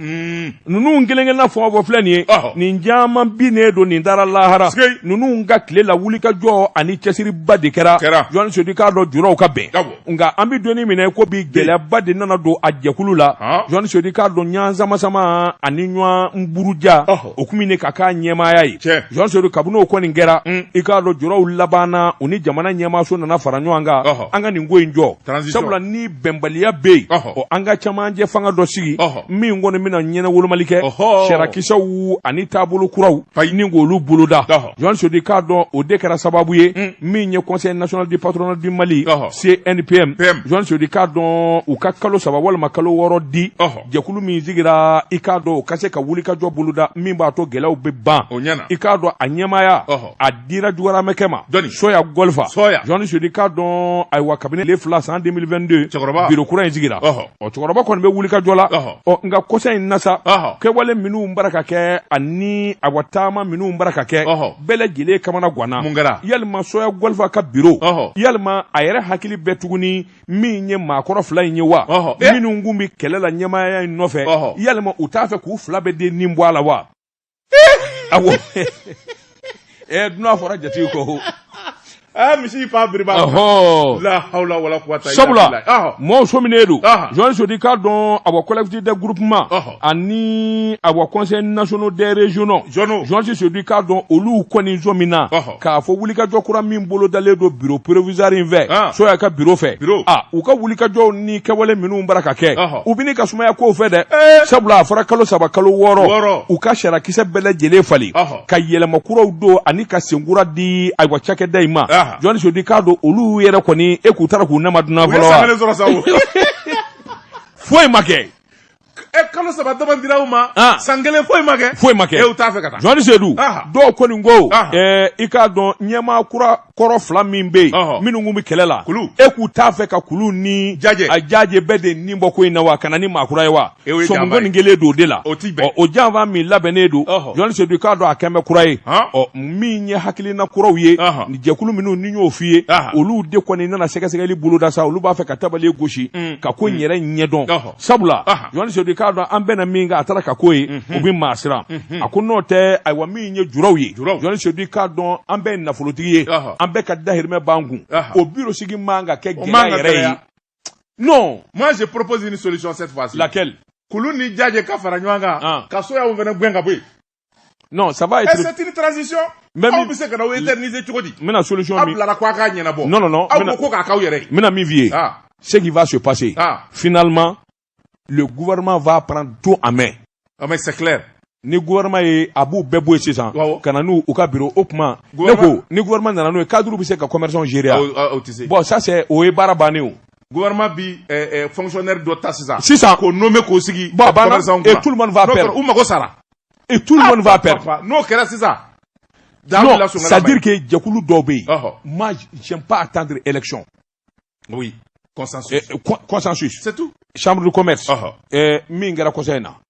Mm. Ninnu kelenkelenna fɔ fɔ filɛ nin ye nin caman bi ne dɔn nin taara lahara ninnu ka tile la wuli ka jɔ ani cɛsiriba de kɛra journaliste Seydou k'a dɔn juraw ka bɛn nka an bɛ don min na i ko bi gɛlɛyaba de nana don a jɛkulu la journaliste Seydou k'a dɔn ɲɔgɔn samasama ani ɲɔgɔn buruja o kun min ka kɛ ɲɛmaaya ye journaliste Seydou kabini o kɔni kɛra i k'a dɔn juraw labanna u ni jamana ɲɛmaaso nana fara ɲɔgɔn kan an ka nin ko in jɔ sabula ni bɛnbaliya bɛ yen o an ka camancɛ fanga dɔ sigi min kɔni bɛna ɲɛnawolomali kɛ sariya kisɛw ani taabolo kuraw ɲini k'olu boloda journaliste Seydou k'a dɔn o de kɛra sababu ye min ye conseil national du patronat du Mali CNPM journaliste Seydou k'a dɔn u ka kalo saba walima kalo wɔɔrɔ di jɛkulu min sigira i k'a dɔn o ka se ka wulikajɔ boloda min b'a to gɛlɛyaw bɛ ban o ɲɛna i k'a dɔn a ɲɛmaaya Ɔhɔ. a dira jogoramɛkɛ ma Jɔni? Soya Golfa Soya. journaliste Seydou k'a dɔn ayiwa kabini le fila san 2022 Cɛkɔrɔba. biro kura in sigira Ɔhɔ. ɔ cɛkɔrɔba kɔni bɛ wulikajɔ la Ɔhɔ. ɔ nka kɔsa in na sa Ɔhɔ. kɛwale minnu bara ka kɛ ani awa taama minnu bara ka kɛ Ɔhɔ. bɛɛ lajɛlen kamanaganna Mun kɛra? yalima Soya Golfa ka biro Ɔhɔ. yalima a yɛrɛ hakili bɛ tuguni min ye maakɔrɔ fila in ye wa minnu tun bɛ kɛlɛ la ɲɛmaaya in nɔfɛ yalima u t'a fɛ k'u fila bɛɛ de nin bɔ a la wa a dunan fɔra jatigi kɔ Eh, misi fa biriba la hawla wala quwwata sabula mɔgɔw sɔminen don journaliste Seydou k'a dɔn awa collectif de groupement ani awa conseil national des régionaux Régionaux. journaliste Seydou k'a dɔn olu kɔni sɔmina Ɔhɔ. k'a fɔ wulikajɔ kura min bolodalen don bureau provisoire in fɛ Ah. Soya ka bureau fɛ Bureau. Ah, u ka wulikajɔw ni kɛwale minnu bara ka kɛ Ɔhɔ. u bɛ ɲini ka sumaya kow fɛ dɛ sabula a fɔra kalo saba kalo Wɔɔrɔ. wɔɔrɔ u ka sariya kisɛ bɛɛ lajɛlen falen Ɔhɔ. ka yɛlɛma kuraw don ani ka senkura di ayiwa cakɛda in ma Aha. journaliste Seydou k'a dɔn olu yɛrɛ kɔni e k'u taara k'u nama dunan u ye fɔlɔ wa san kelen sɔrɔ sa o foyi ma kɛ e kalo saba dama dira u ma ah. san kelen foyi ma kɛ foyi ma kɛ e t'a fɛ ka taa journaliste Seydou ah. dɔw kɔni ko ah. eh, i k'a dɔn ɲɛmaa kura kɔrɔ fila min bɛ yen minnu kun bɛ kɛlɛ la e k'u t'a fɛ ka Kulu ni Jaje bɛɛ de nin bɔ ko in na wa ka na ni maakura ye wa e sɔmiko nin kɛlen don o de la o janfa min labɛnnen don journaliste Seydou i k'a dɔn a kɛmɛ bɛ kura ye ɔ min ye hakilina kuraw ye ni jɛkulu minnu n y'o f'i ye olu de kɔni nana sɛgɛsɛgɛli boloda sa olu b'a fɛ ka tabali gosi mm. ka ko in mm. yɛrɛ ɲɛdɔn sabula journaliste Seydou k'a dɔn an bɛnna min kan a taara ka ko ye o bɛ maa siran a ko n'o tɛ ayiwa min ye juraw ye journaliste Seydou k'a dɔn an bɛɛ ye nafolotigi ye an bɛɛ ka dahirimɛ b'an kun o biro sigi man ka kɛ gɛlɛya yɛrɛ ye non moi je propose une solution cette fois-ci laquelle kulu ni jaje ka fara ɲɔgɔn kan ka soyaw fana gɛn ka bɔ yen non ça va être c'est une transition même aw bɛ se ka na o éterniser cogo di mais la solution min aw bilara ko a k'a ɲɛnabɔ non non non aw ko ko k'a k'aw yɛrɛ ye n bɛna min f'i ye ah. ce qui va se passer ah. finalement le gouvernement va prendre tout en main ah mais c'est clair ni gouvernement ye a b'u bɛɛ bɔ yen sisan ka na n'u u ka biro o tuma ne ko ni gouvernement nana n'o ye cadre bɛ se ka commerçants gérer bon ça c'est o ye baara bannen o gouvernement bi eh, eh, fonctionnaire dɔ ta sisan sisan k'o nommé k'o sigi bon a banna et tout le monde va perdre u mago sara et tout le ah, monde va perdre n'o kɛra sisan non c'est à dire que jɛkulu dɔw bɛ yen moi j'aime pas attendre élection oui consensus eh, consensus c'est tout chambre de commerce min kɛra kɔsa in na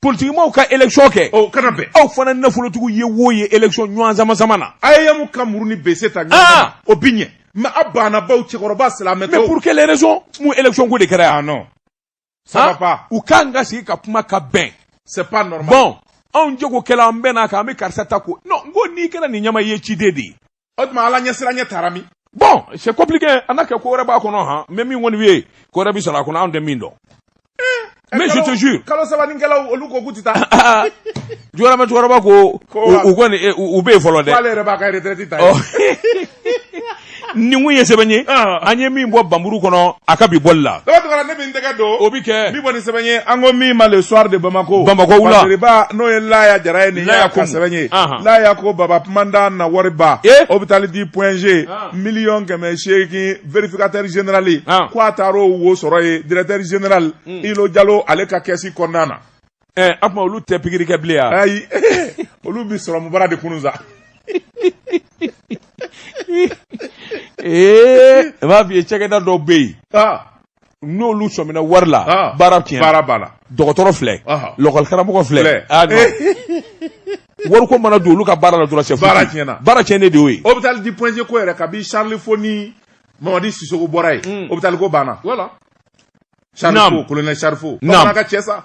politigimɔgɔw ka élection kɛ o kana bɛn aw fana nafolotigiw ye wo ye élection ɲɔgɔn samasama na a ye yamu ka muru ni bese ta ɲɔgɔn o bi ɲɛ mais a banna baw cɛkɔrɔba silamɛtɔ mais pour quelle raison mun élection ko de kɛra yan non ça va pas u kan ka sigi ka kuma ka bɛn c'est pas normal bon anw jagokɛla an bɛnn'a kan an bɛ karisa ta ko non n ko n'i kɛra nin ɲɛmaa ye ciden de ye o tuma ala ɲɛsiranya taara min bon c'est compliqué a na kɛ ko wɛrɛ b'a kɔnɔ han n bɛ min kɔni ye ko wɛrɛ bɛ sɔrɔ a kɔnɔ anw tɛ min dɔn eh, mais je te jure kalo saba ni kɛlaw olu ko k'u tɛ taa jɔyɔrɔma cɛkɔrɔba ko u kɔni eh, u bɛ yen fɔlɔ dɛ k'ale yɛrɛ b'a ka retraite ta oh. nin kun ye sɛbɛn ye ah. an ye min bɔ banburu kɔnɔ a ka bi bɔli la tɛgɛ don o bɛ kɛ min kɔni sɛbɛn ye an ko min ma le soir de Bamako Bamako wula Masiriba n'o ye Laya Jara ye nin y'a ka sɛbɛn ye Laya ko Baba Kumanda na wari ba hôpital du point G miliyɔn kɛmɛ seegin vérificateur général ko a taar'o wo sɔrɔ yen directeur général Ilo Jalo ale ka kɛsi kɔnɔna na ɛ o tuma olu tɛ pikiri kɛ bilen wa ayi olu bɛ sɔrɔmu bara de kunun sa ee n b'a f'i ye cakɛda dɔw bɛ yen n'olu sɔmina wari la ah. baara tiɲɛ baara b'a la dɔgɔtɔrɔ filɛ lɔkɔlikaramɔgɔ filɛ ah, wari ko mana don olu ka baara la dɔrɔn sɛ baara tiɲɛna baara tiɲɛnen de y'o ye hôpital du point G ko yɛrɛ kabi charles fau ni mamadi sisoko bɔra yen hmm. hôpital ko banna voilà charles fau colonel charles fau bamanan ka cɛ sa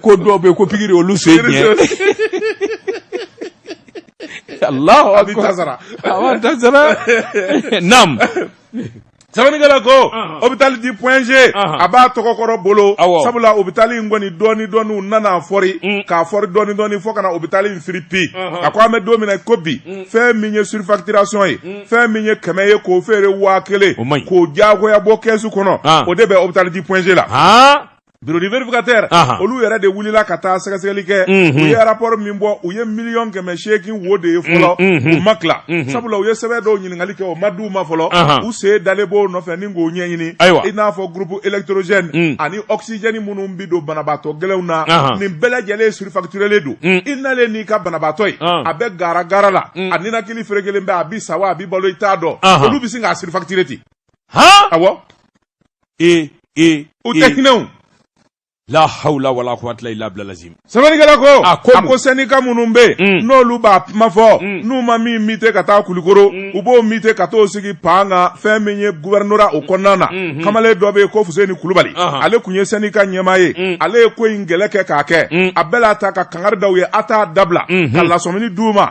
ko dɔw bɛ ko pikiri olu se diɲɛ alahu akbar tasara awa tasara nam sɛbɛnnikɛla ko Ɔnhɔn. hôpital du point G Ɔnhɔn. a b'a tɔgɔkɔrɔ bolo Awɔ. sabula hôpital in kɔni dɔɔni dɔɔni u nana a fɔri Mm. k'a fɔri dɔɔni dɔɔni fo ka na hôpital in firi pi Ɔnhɔn. a ko an bɛ don min na ko bi fɛn min ye surfacturation ye fɛn min ye kɛmɛ ye k'o feere waa kelen O man ɲi. k'o diyagoya bɔ kɛsu kɔnɔ Ah. o de bɛ hôpital du point G la han bureau du vérificateur olu yɛrɛ de wulila ka taa sɛgɛsɛgɛli kɛ u ye rapport min bɔ u ye miliyɔn kɛmɛ seegin wo de ye fɔlɔ u ma tila sabula u ye sɛbɛn dɔw ɲininkali kɛ o ma di u ma fɔlɔ u sen dalen b'o nɔfɛ ni k'o ɲɛɲini ayiwa i n'a fɔ groupe électrogène ani oxygène minnu bɛ don banabaatɔ gɛlɛnw na nin bɛɛ lajɛlen surfacturélen don i nalen n'i ka banabaatɔ ye a bɛ garagara la a ninakili ferekelen bɛ a bi sa wa a bi balo i t'a dɔn olu bɛ se k'a surfacturer ten e e u tɛ hinɛ la hawla wala quwwata illa billah lazim sɛbɛnnikɛla ko a ko a ko sɛndika minnu bɛ yen mm. n'olu b'a kuma fɔ mm. n'u ma min muter ka taa kulikoro mm. u b'o muter ka t'o sigi pan kan fɛn min ye guvɛrinora o kɔnɔna na mm-hmm. kamalen dɔ bɛ yen ko fuseni kulubali uh-huh. ale tun ye sɛndika ɲɛmaa ye mm. ale ye ko in kɛlɛ kɛ k'a kɛ a bɛɛ la ta ka kangari da u ye a t'a dabila mm-hmm. ka lasɔmini d'u ma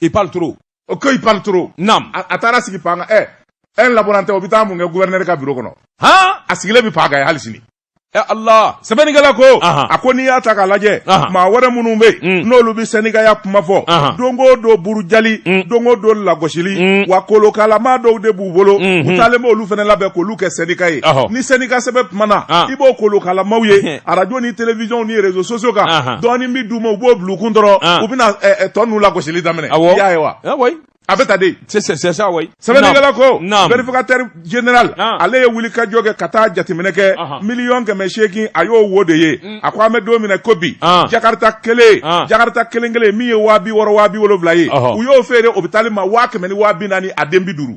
il parle trop o ko il parle trop nam a taara sigi paa kan ɛ ɛ un laborantin o bɛ taa mun kɛ gouverneur ka bureau kɔnɔ han a sigilen bɛ paa kan yen hali sini ɛ allah sɛbɛnnikɛla ko a ko n'i y'a ta k'a lajɛ maa wɛrɛ minnu bɛ yen mm. n'olu bɛ sɛndikaya kuma fɔ don o don burujali mm. don o don lagosili mm. wa kolokalama dɔw de b'u bolo mm-hmm. u taalen b'olu fana labɛn k'olu kɛ sɛndika ye ni sɛndika sɛbɛ kumana i b'o kolokalamaw ye arajo ni televizyɔn ni réseaux sociaux kan dɔɔni bɛ d'u ma u b'o bila u kun dɔrɔn u bɛna tɔ ninnu lagosili daminɛ i y'a ye wa a bɛ tan de sɛbɛnnikɛla ko vérificateur général ale ye wuli ka jɔ kɛ ka taa jateminɛ kɛ miliyɔn kɛmɛ seegin a y'o wo de ye mm. a ko an bɛ don min na ko bi jakarita kelen jakarita kelen kelen min ye waa bi wɔɔrɔ waa bi wolonwula ye u y'o feere ɔpitali ma waa kɛmɛ ni waa bi naani a den bi duuru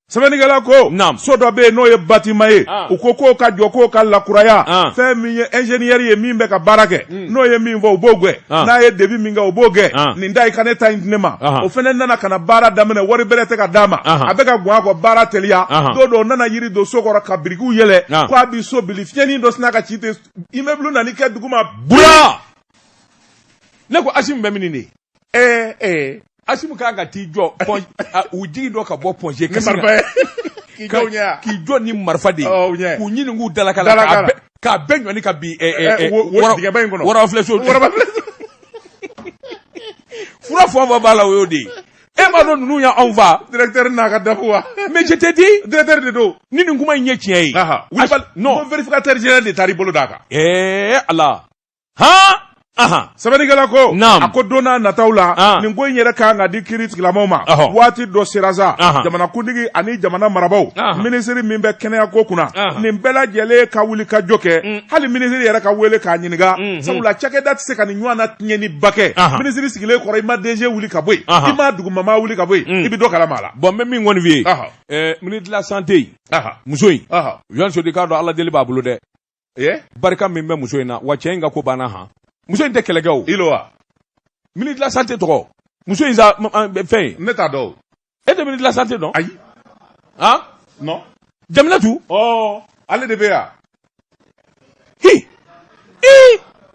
sɛbɛnnikɛla ko so dɔ bɛ yen n'o ye batiman ye ah. u ko k'o ka jɔ k'o ka lakuraya ah. fɛn min ye ɛnzeniyɛri ye min bɛ ka baara kɛ hmm. n'o ye min fɔ u b'o gɛn ah. n'a ye debi min kɛ u b'o gɛn nin da i ka ne ta in di ne ma o fana nana ka na baara daminɛ wari bɛrɛ tɛ ka d'a ma a bɛ ka gɔn a kɔ baara teliya don dɔ o nana yiri don so kɔrɔ ka birikiw yɛlɛ ko a bi so bili fiɲɛni dɔ sinna ka ci ten imɛbulu nan'i kɛ duguma bura ne ko asimu bɛ min nin de ye ee ee asimu kan ka t'i jɔ pɔn- a- u jigintɔ ka bɔ Point-G kasi la. marifa k'i jɔ u ɲɛ wa? k'i jɔ ni marifa de ye Ɔ, u ɲɛ. k'u ɲini k'u dalaka la Dalaka k'a la. bɛɛ- k'a bɛɛ ɲɔni ka bin ɛ, ɛ, Ɛ, ɛ, wo- wo wɔrɔ- dingɛba in kɔnɔ. wɔrɔ filɛ so Wɔrɔba filɛ. fura fɔ fɔ b'a la o y'o de ye e m'a dɔn ninnu y'anw fa directeur n'a ka dako wa mais je te dis directeur de don ni nin kuma in ye tiɲɛ ye Aha. Asi- Wulibali- non non vérificateur général de taar'i bolo d'a kan ɛɛ ala Sɛbɛnnikɛla ko a ko don n'a nata la nin ko in yɛrɛ ka kan ka di kiri tigilamaaw ma waati dɔ sera sa jamanakuntigi ani jamana marabagaw minisiri min bɛ kɛnɛya ko kunna nin bɛɛ lajɛlen ka wulikajɔ kɛ mm. hali minisiri yɛrɛ ka weele k'a ɲininka mm, mm. sabula cakɛda tɛ se ka nin ɲɔgɔn na tiɲɛniba kɛ minisiri sigilen kɔrɔ i ma DG wuli ka bɔ yen i ma dugumamaa wuli ka bɔ yen i bɛ dɔ kalama a la bon n bɛ min kɔni f'i ye ministre de la santé muso in jɔnti sedu i k'a dɔn ala deli b'a bolo dɛ e barika min bɛ muso in na wa cɛ in ka ko banna han muso in tɛ kɛlɛkɛ o ilo wa ministre de la santé tɔgɔ muso in sa fɛn ne t'a dɔn e tɛ ministre de la santé dɔn ayi han non jaminatu ɔ ale de bɛ yan hi i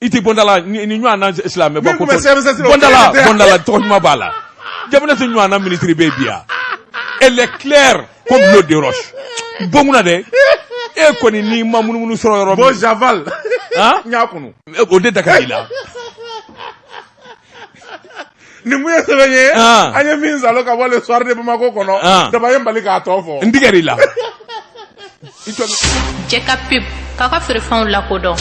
i tɛ bɔndala nin ɲɔgɔn na silamɛ bɔ Min tun bɛ CMSS la, o bɔndala kelen tɛ. bɔndala tɔgɔ ɲuman b'a la jaminatu ɲɔgɔn na minisiri bɛ bi yan elle est claire comme l'eau de roche bon kunna dɛ e kɔni n'i ma munumunu sɔrɔ yɔrɔ bon min j'avale Han? n y'a kunu o de da ka di i la nin mun ye sɛbɛn ye ah. an ye min salo ka bɔ le soir de Bamako kɔnɔ ah. daba ye n bali k'a tɔ fɔ n tigɛr'i la jɛ ka pep k'a ka feerefɛnw lakodɔn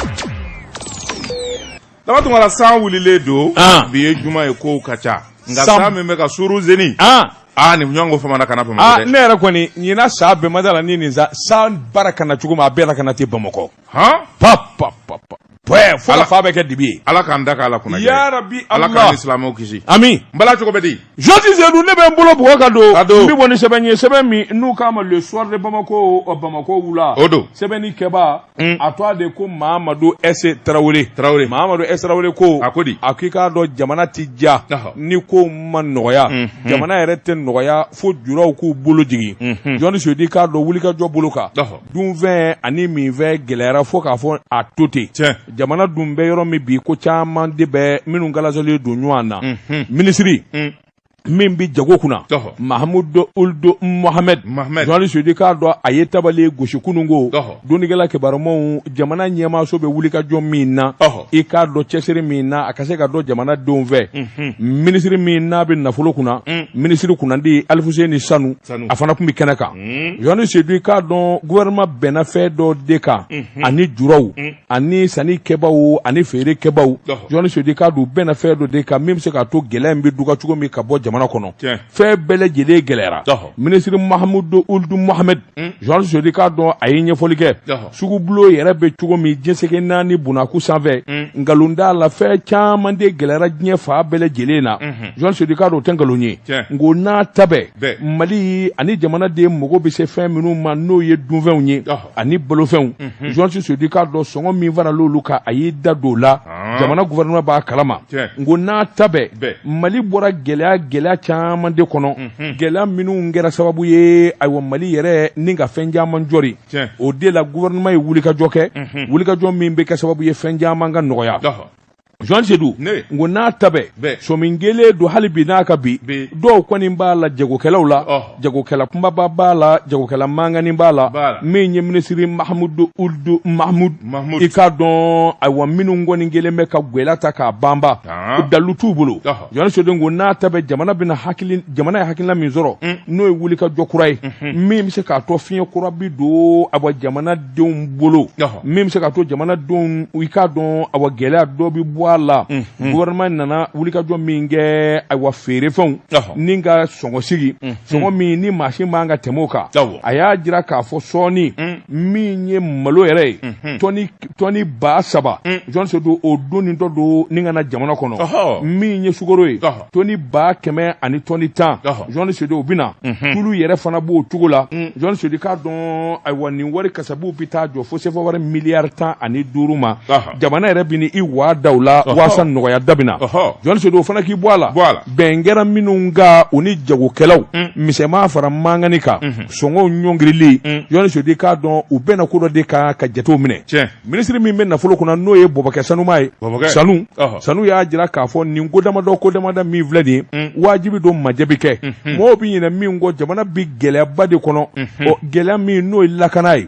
daba tunkara san wulilen don ah. bi ye juma ye kow ka ca nka san min bɛ ka suru zeni aa nin ɲɔgɔn ko faamana ka na bamakɔ aa ne yɛrɛ kɔni ɲinan san bɛɛ ma da la ni nin sa san baara ka na cogo min a bɛɛ la ka na ten bamakɔ han pap pap pap pɛ fo Ala- fa bɛ kɛ dibi ye ala k'an da k'a la kunna Ya Rabbi ala k'an Allah. ni silamɛw kisi amiin bala cogo bɛ di jɔnti sedu ne bɛ n bolo bugɔ ka don Ka don. n bɛ bɔ ni sɛbɛn ye sɛbɛn min n'u k'a ma le soir de bamako ɔ, bamako wula O don. sɛbɛnnikɛbaa Mm. a tɔgɔ de ko mahamadu ɛse tarawele Tarawele. mahamadu ɛse tarawele ko A ko di? a k'i k'a dɔn jamana tɛ diya Ɔhɔ. ni ko ma nɔgɔya Mhm. jamana yɛrɛ tɛ nɔgɔya fo juraw k'u bolo jigin Mhm. jɔnti sedu i k'a dɔn wulikajɔ bolo kan Ɔhɔ. dunfɛn ani minfɛn gɛlɛyara fo k'a fɔ a to ten jamana dun bɛ yɔrɔ min bi ko caman de bɛ minnu galasɔlen don ɲɔgɔn na mhm. minisiri mm. min bɛ jago kunna mahamudu uludu mohamɛd jɔnti sedu i k'a dɔn a ye tabali gosi kunun ko dɔnnikɛla kibarumaw jamana ɲɛmaaso bɛ wulikajɔ min na i k'a dɔn cɛsiri min na a ka se ka dɔn jamana denw fɛ mhm. minisiri min n'a bɛ nafolo kunna mm. minisiri kunnandi alifuseni sanu a fana tun bɛ kɛnɛ kan hmm. jɔnti sedu i k'a dɔn gouvernement bɛnna fɛn dɔ de kan hmm. ani juraw hmm. ani sannikɛbaaw ani feerekɛbaaw jɔnti sedu i k'a dɔn bɛnna fɛn dɔ de kan min bɛ se k'a to gɛlɛya in bɛ duga cogo min ka bɔ jamana kɔnɔ fɛn bɛɛ lajɛlen gɛlɛyara minisiri mahamudu uludu mohamɛdi jɔnti sedu i k'a dɔn a ye ɲɛfɔli kɛ sugubulo yɛrɛ bɛ cogo min jɛnsɛgɛ naani bunaku sanfɛ mm. nkalon t'a la fɛn caman de gɛlɛyara diɲɛ fan bɛɛ lajɛlen na mm-hmm. jɔn Sedu i k'a dɔn o tɛ nkalon ye nko n'a ta bɛɛ mali ani jamanaden mago bɛ se fɛn minnu ma n'o ye dunfɛnw ye ani balofɛnw mm-hmm. jɔn Sedu i k'a dɔn sɔngɔ min faral'olu kan a y'i da don o la ah. jamana gouvernement b'a kalama nko n'a ta bɛɛ mali bɔra gɛlɛya gɛlɛya caman de kɔnɔ mm-hmm. gɛlɛya minnu kɛra sababu ye ayiwa mali yɛrɛ ni ka fɛn caman jɔri o de la gouvernement ye wulikajɔ kɛ wulikajɔ min bɛ kɛ sababu ye fɛn caman ka nɔgɔya Jean Sedu n ko n'a ta bɛɛ sɔmin gɛlɛn don hali bi n'a ka bi dɔw kɔni b'a la jagokɛlaw la jagokɛla kunbaba b'a la jagokɛla mankani b'a la min ye minisiri Mahamudu Uludu Mahamudu i k'a dɔn ayiwa minnu kɔni kɛlen bɛ ka gwɛlɛya ta k'a banba dalilu t'u bolo. Jɔn Sedu n ko n'a ta bɛɛ jamana ye hakilina min sɔrɔ mm. n'o ye wulikajɔ kura ye mm-hmm. min bɛ se k'a to fiɲɛ kura bɛ don awa jamanadenw bolo min bɛ se k'a to jamanadenw i k'a dɔn awa gɛlɛya dɔ bɛ bɔ a la mm-hmm. gouvernement nana wulikajɔ min kɛ ayiwa feerefɛnw ni ka sɔngɔ sigi mm-hmm. sɔngɔ min ni maa si man ka tɛmɛ kan a y'a jira k'a fɔ sɔɔni mm. min ye malo yɛrɛ ye tɔni ba saba mm. jɔn Sedu o don ni dɔ don ni ka na jamana kɔnɔ min ye sukoro ye tɔni ba kɛmɛ ani tɔni tan jɔn Sedu o bɛna mhm. tulu yɛrɛ fana b'o cogo la mm. jɔn Sedu i k'a dɔn ayiwa nin wari kasabuw bɛ taa jɔ fo sefa wari miliyari tan ani duuru ma jamana yɛrɛ bɛ ni i waa da u la waasa nɔgɔya dɔ bɛ na jɔn Sedu o fana k'i bɔ a la bɛn kɛra minnu kan u ni jagokɛlaw mm. misɛnman fara mankani kan mhm. sɔngɔw ɲɔngirili mm. jɔn Sedu i k'a dɔn u bɛnna ko dɔ de kan ka jatew minɛ minisiri min bɛ nafolo kunna n'o ye bɔbɔkɛ sanuma ye sanu sanu y'a jira k'a fɔ nin ko damadɔ ko damada min filɛ nin ye mm. wajibi don majɛ bɛ kɛ mm-hmm. mɔgɔw bɛ ɲinɛ min kɔ jamana bɛ gɛlɛyaba de kɔnɔ mm-hmm. gɛlɛya min n'o ye lakana ye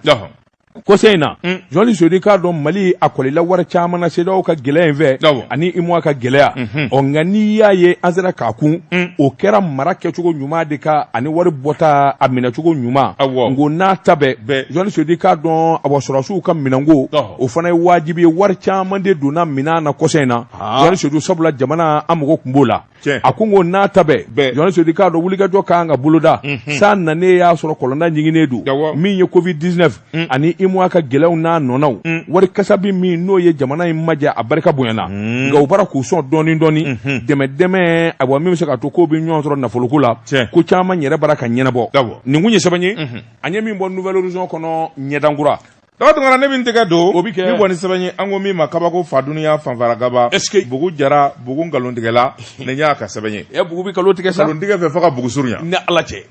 kɔsa in na mm. jɔnni Sedu i k'a dɔn mali a kɔlila wari caman na CEDEAO ka gɛlɛya in fɛ ani UEMOA ka gɛlɛya mhm. ɔ nka n'i y'a ye an sera k'a kun mm. o kɛra mara kɛcogo ɲuman de kan ani wari bɔta a minɛcogo ɲuman nko n'a ta bɛɛ jɔnni Sedu i k'a dɔn awa sɔrɔsiw ka minɛnko o fana ye wajibi ye wari caman de donna minɛn na kɔsa in na jɔnni Sedu sabula jamana an mago tun b'o la Tiɲɛ. a ko n ko n'a ta bɛɛ Bɛɛ. jɔn Sedu i k'a dɔn wulikajɔ ka kan ka boloda san nanen y'a sɔrɔ kɔlɔnda ɲiginnen don Awɔ. min ye covid 19 ani UEMOA ka gɛlɛyaw n'a nɔnaw wari kasabi min n'o ye jamana in maja a barika bonyana nka u b'a la k'u sɔn dɔɔni dɔɔni dɛmɛ dɛmɛ awa min bɛ se k'a to k'o bɛ ɲɔgɔn sɔrɔ nafoloko la Tiɲɛ. ko caman yɛrɛ b'a la ka ɲɛnabɔ Awɔ. nin tun ye sɛbɛn ye an ye min bɔ nouvelle horizon kɔnɔ ɲɛdankura Daga tun ne min tɛgɛ don o bɛ kɛ bɔ ni sɛbɛn ye an ko min ma kabako fa duniya fanfaragaba e bugu jara bugu nkalontigɛla ne y'a ka sɛbɛn ye e bugu bɛ nkalon tigɛ sa nkalontigɛ fɛ fo ka bugu surunya ni ala cɛ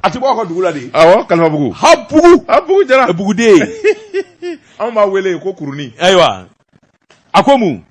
a tɛ b'a ka dugu la de kalifabugu a bugu jara buguden anw b'a wele ko kurunin ayiwa a ko mun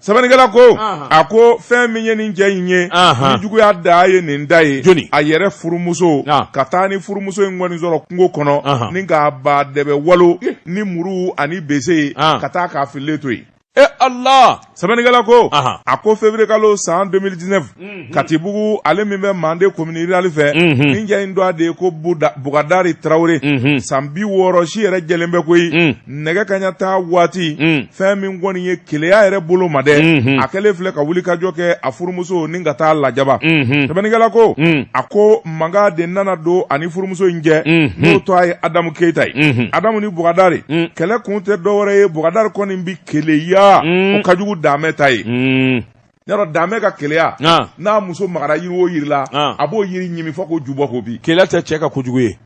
sɛbɛnnikɛla ko a ko fɛn min ye nin cɛ in ye ni juguya da ye nin da ye a yɛrɛ furumuso ka taa ni furumuso in kɔni sɔrɔ kungo kɔnɔ ni k'a ba dɛbɛ walo ni muru ani bese ye ka taa k'a fililen to yen e ala sɛbɛnnikɛla ko a ko feviriyekalo san 2019 katibugu ale min bɛ manden komini rurali fɛ nin cɛ in tɔgɔ de ye ko bugadari tarawele san bi wɔɔrɔ si yɛrɛ jɛlen bɛ koyi nɛgɛ kaɲa taa waati fɛn min kɔni ye keleya yɛrɛ bolo ma dɛ a kɛlen filɛ ka wulikajɔ kɛ a furumuso ni ka taa lajaba sɛbɛnnikɛla ko a ko mankan de nana don a ni furumuso in cɛ n'o tɔgɔ ye adamu keyita ye adamu ni bugadari kɛlɛ kun tɛ dɔwɛrɛ ye bugadari kɔni bi keleya o ka jugu damɛ ta ye yɔrɔ damɛ ka keleya n'a muso magara yiri o yiri la a b'o yiri ɲimi fo k'o ju bɔ k'o bi keleya tɛ cɛ ka kojugu ye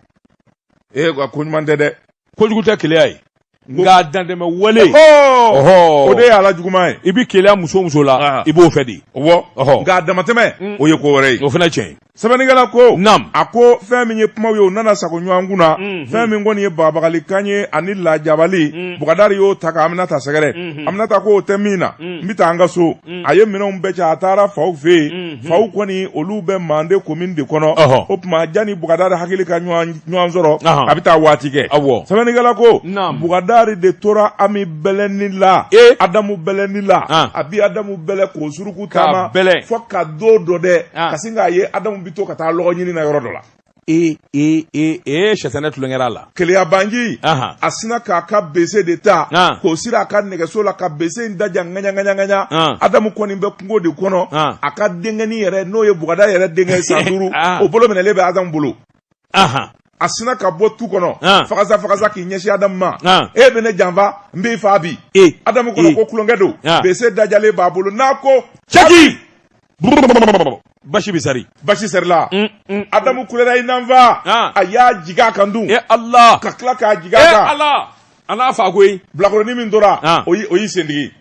ee wa ko ɲuman tɛ dɛ kojugu tɛ keleya ye nka dantɛmɛ wale o de ye a la juguman ye i bɛ keleya muso o muso la i b'o fɛ de nka damatɛmɛ o ye ko wɛrɛ ye o fana tiɲɛ ye Sɛbɛnnikɛla ko nam a ko fɛn min ye kuma ye u nana sago ɲɔgɔn kunna fɛn min kɔni ye bagabagalikan ye ani lajabali bugadari y'o ta ka aminata sɛgɛrɛ aminata ko o tɛ min na n bɛ taa an ka so a ye minɛnw bɛɛ cɛ a taara faw fɛ yen faw kɔni olu bɛ manden komini de kɔnɔ o tuma jani bugadari hakili ka ɲɔgɔn sɔrɔ a bɛ taa waati kɛ aw sɛbɛnnikɛla ko bugadari de tora ami bɛlɛni la ee adamu bɛlɛni la a bi adamu bɛlɛ k'o suruku taama bɛlɛ fo ka don dɔ dɛ ka sin k'a ye adamu bi to ka taa lɔgɔ ɲini na yɔrɔ dɔ la ee ee ee ee sɛtanɛ tulonkɛra la keleyabanji a sina k'a ka bese de ta k'o siri a ka nɛgɛso la ka bese in daja ŋaɲaŋaɲaŋaɲa adamu kɔni bɛ kungo de kɔnɔ a ka denkɛni yɛrɛ n'o ye bugadari yɛrɛ denkɛ san duuru o bolo minɛlen bɛ adamu bolo aha a sina ka bɔ tu kɔnɔ ah. fagasa fagasa k'i ɲɛsin adamu ma ah. e bɛ ne janfa n b'i faa bi e. adamu kɔnɔ e. ko tulonkɛ don ah. bese dajalen b'a bolo n'a ko cɛki basi bɛ sari basi sarila mm, mm, mm. adamu kulera i na n faa a y'a jigin a kan dun e ala ka tila k'a jigin a e kan ala a n'a faa koyi bilakoronin min tora o y'i sendigi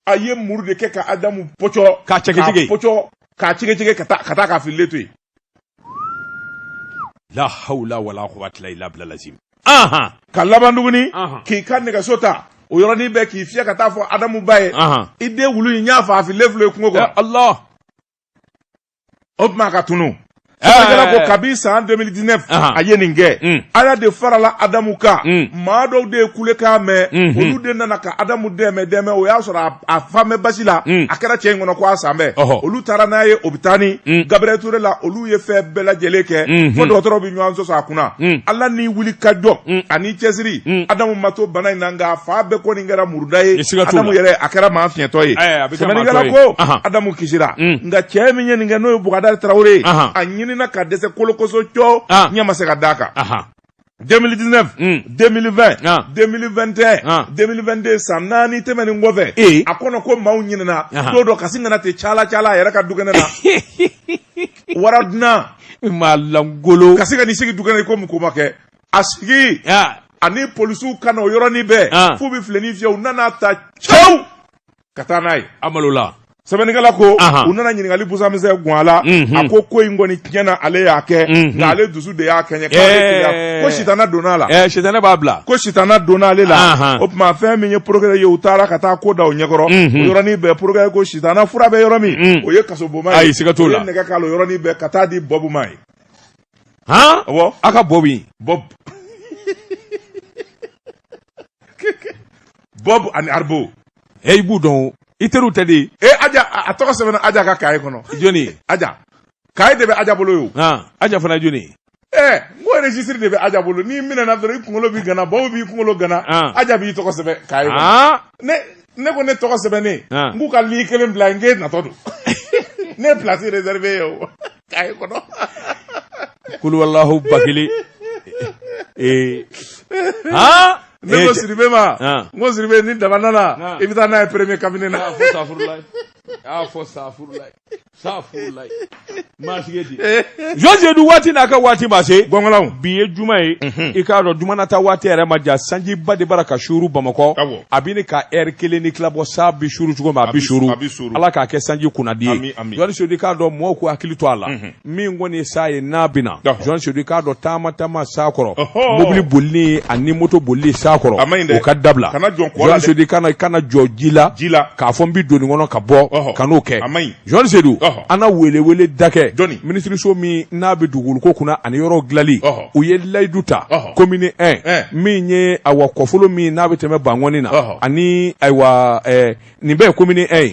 a ye muru de kɛ ka adamu pɔcɔ k'a cɛkɛcɛkɛ k'a pɔcɔ k'a cɛkɛcɛkɛ ka taa ka taa k'a fililen to yen la hawla wala quwwata illa billah lazim aha ka laban tuguni k'i ka nɛgɛso ta o yɔrɔnin bɛɛ k'i fiyɛ ka taa fɔ adamu ba ye i den wulu in y'a faa a fililen filɛ yen kungo kɔnɔ allah o tuma ka tunu sɛbɛnnikɛla ko kabi san 2019 a ye nin kɛ ala de farala adamu kan maa dɔw de ye kulekan mɛn mhm. olu de nana ka adamu dɛmɛ dɛmɛ o y'a sɔrɔ a falen bɛ basi la mhm. a kɛra cɛ in kɔnɔ ko a salen bɛ olu taara n'a ye opitali mhm. gabriel ture la olu ye fɛn bɛɛ lajɛlen kɛ fo dɔgɔtɔrɔ bɛ ɲɔgɔn sɔsɔ a kunna ala ni wuli ka jɔ ani cɛsiri adamu ma to bana in na nka a fan bɛɛ kɔni kɛra muruda ye adamu yɛrɛ a kɛra maa fiɲɛtɔ ye sɛbɛnnikɛla ko adamu kisira nka cɛ min ye nin kɛ n'o ye bugadari tarawele a ɲinina ka dɛsɛ kolokoso cɔ ah. ɲɛ ma se ka d'a kan 2019 mm. 2020 ah. 2021 ah. 2022 san naani tɛmɛnen kɔfɛ e. a kɔnɔ ko maaw ɲinɛna don dɔ ka sin ka na ten cala cala a yɛrɛ ka dukɛnɛ na wara dunan maa lankolon ka sin ka n'i sigi dukɛnɛ komi ko ma kɛ a sigi ah. ani polisiw ka na o yɔrɔnin bɛɛ ah. f'u bɛ filenin fiyɛ u nan'a ta cɛw ka taa n'a ye a malola sɛbɛnnikɛla ko u nana ɲininkali busan misɛn gun a la mhm. a ko ko in kɔni tiɲɛna ale y'a kɛ mhm. nka ale dusu de y'a kɛɲɛ eh. ko sitana donna a la eh, sitana b'a bila ko sitana donna ale la o tuma fɛn min ye porokɛrɛ ye u taara ka taa ko da o ɲɛkɔrɔ o mhm. yɔrɔnin bɛɛ porokɛrɛ ko sitana fura bɛ yɔrɔ min o ye kasoboma ye ayi siga t'o la o ye nɛgɛ k'a la o yɔrɔnin bɛɛ ka t'a di bɔbu ma ye han awɔ a ka bɔbu bɔbu bɔbu ani arbo ɛ i b'u dɔn o i teriw tɛ de e aja a a tɔgɔ sɛbɛnna aja ka kaye kɔnɔ jɔnni aja kaye de bɛ aja bolo yo han aja fana ye jɔnni ye ɛ n ko registre de bɛ aja bolo n'i minɛna dɔrɔn i kunkolo bi gana bɔbu b'i kunkolo gana Ah. aja b'i tɔgɔ sɛbɛn kaye kɔnɔ han ne ne ko ne tɔgɔ sɛbɛnnen Ah. n k'u ka lii kelen bila n k'e natɔ don ne ye place réservé ye o kaye kɔnɔ kul wallahu bakili ee aa ne ko sidibe ma Ah. n ko sidibe ni daba nana Ah. i bɛ taa n'a ye premier cabinet na a fɔ safurulayi a fɔ safurulayi safurulayi maa sigi di jɔnsedu waati n'a ka waati ma se gɔngɔnlaw bi ye juma ye i k'a dɔn juma na taa waati yɛrɛ man jan sanjiba de bara ka suuru bamakɔ Awɔ. a bɛ ɲini ka ɛri kelen ni tila bɔ san bi suuru cogo min a bi suuru a bi suuru. ala k'a kɛ sanji kunnandi Ami, ye ami. jɔnsedu i k'a dɔn mɔgɔw k'u hakili to a la min kɔni ye san ye n'a bɛ na jɔnsedu i k'a dɔn taama taama san kɔrɔ mobili bolili ani moto bolili san kɔrɔ o ka dabila jɔnsedu i kana kana jɔ ji la k'a fɔ n bɛ don nin kɔnɔ ka bɔ kan'o kɛ jɔnsedu an na weleweleda kɛ minisiriso min n'a bɛ dugukolo kunna ani yɔrɔ dilanli u ye layidu ta komini 1 min ye ayiwa kɔfolo min n'a bɛ tɛmɛ bankɔni na ani ayiwa nin bɛɛ ye komini 1 ye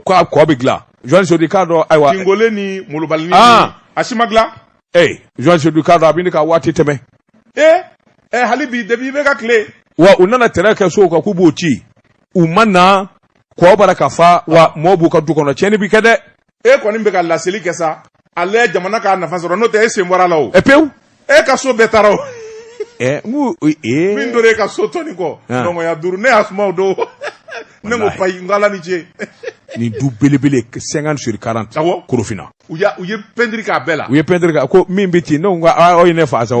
ko a kɔ bɛ dilan jɔnsedu i k'a dɔn ayiwa tingole ni molobalini a si ma dilan ee jɔnsedu i k'a dɔn a bɛ ɲini ka waati tɛmɛ ee ɛ hali bi depi i bɛ ka tile wa u nana tɛrɛ kɛ sow kan k'u b'o ci u ma na kɔ bara ka fa wa mɔɔ b'u ka du kɔnɔ tiɲɛni bi kɛ dɛ e kɔni bɛ ka laseli kɛ sa ale jamana k'a nafa sɔrɔ n'o tɛ e sen bɔr'a la o. ɛ pewu. e ka so bɛɛ taara o. ɛ n ko ee. min tora e ka so tɔni kɔ. nɔngɔnɲa duuru ne y'a suma o don. ne ko payi n ko ala ni ce. nin du belebele cinquante sur quarante. awɔ korofina. u y'a u ye pɛntiri k'a bɛɛ la. u ye pɛntiri k'a ko min bɛ ten ne ko aw ye ne fa sa o.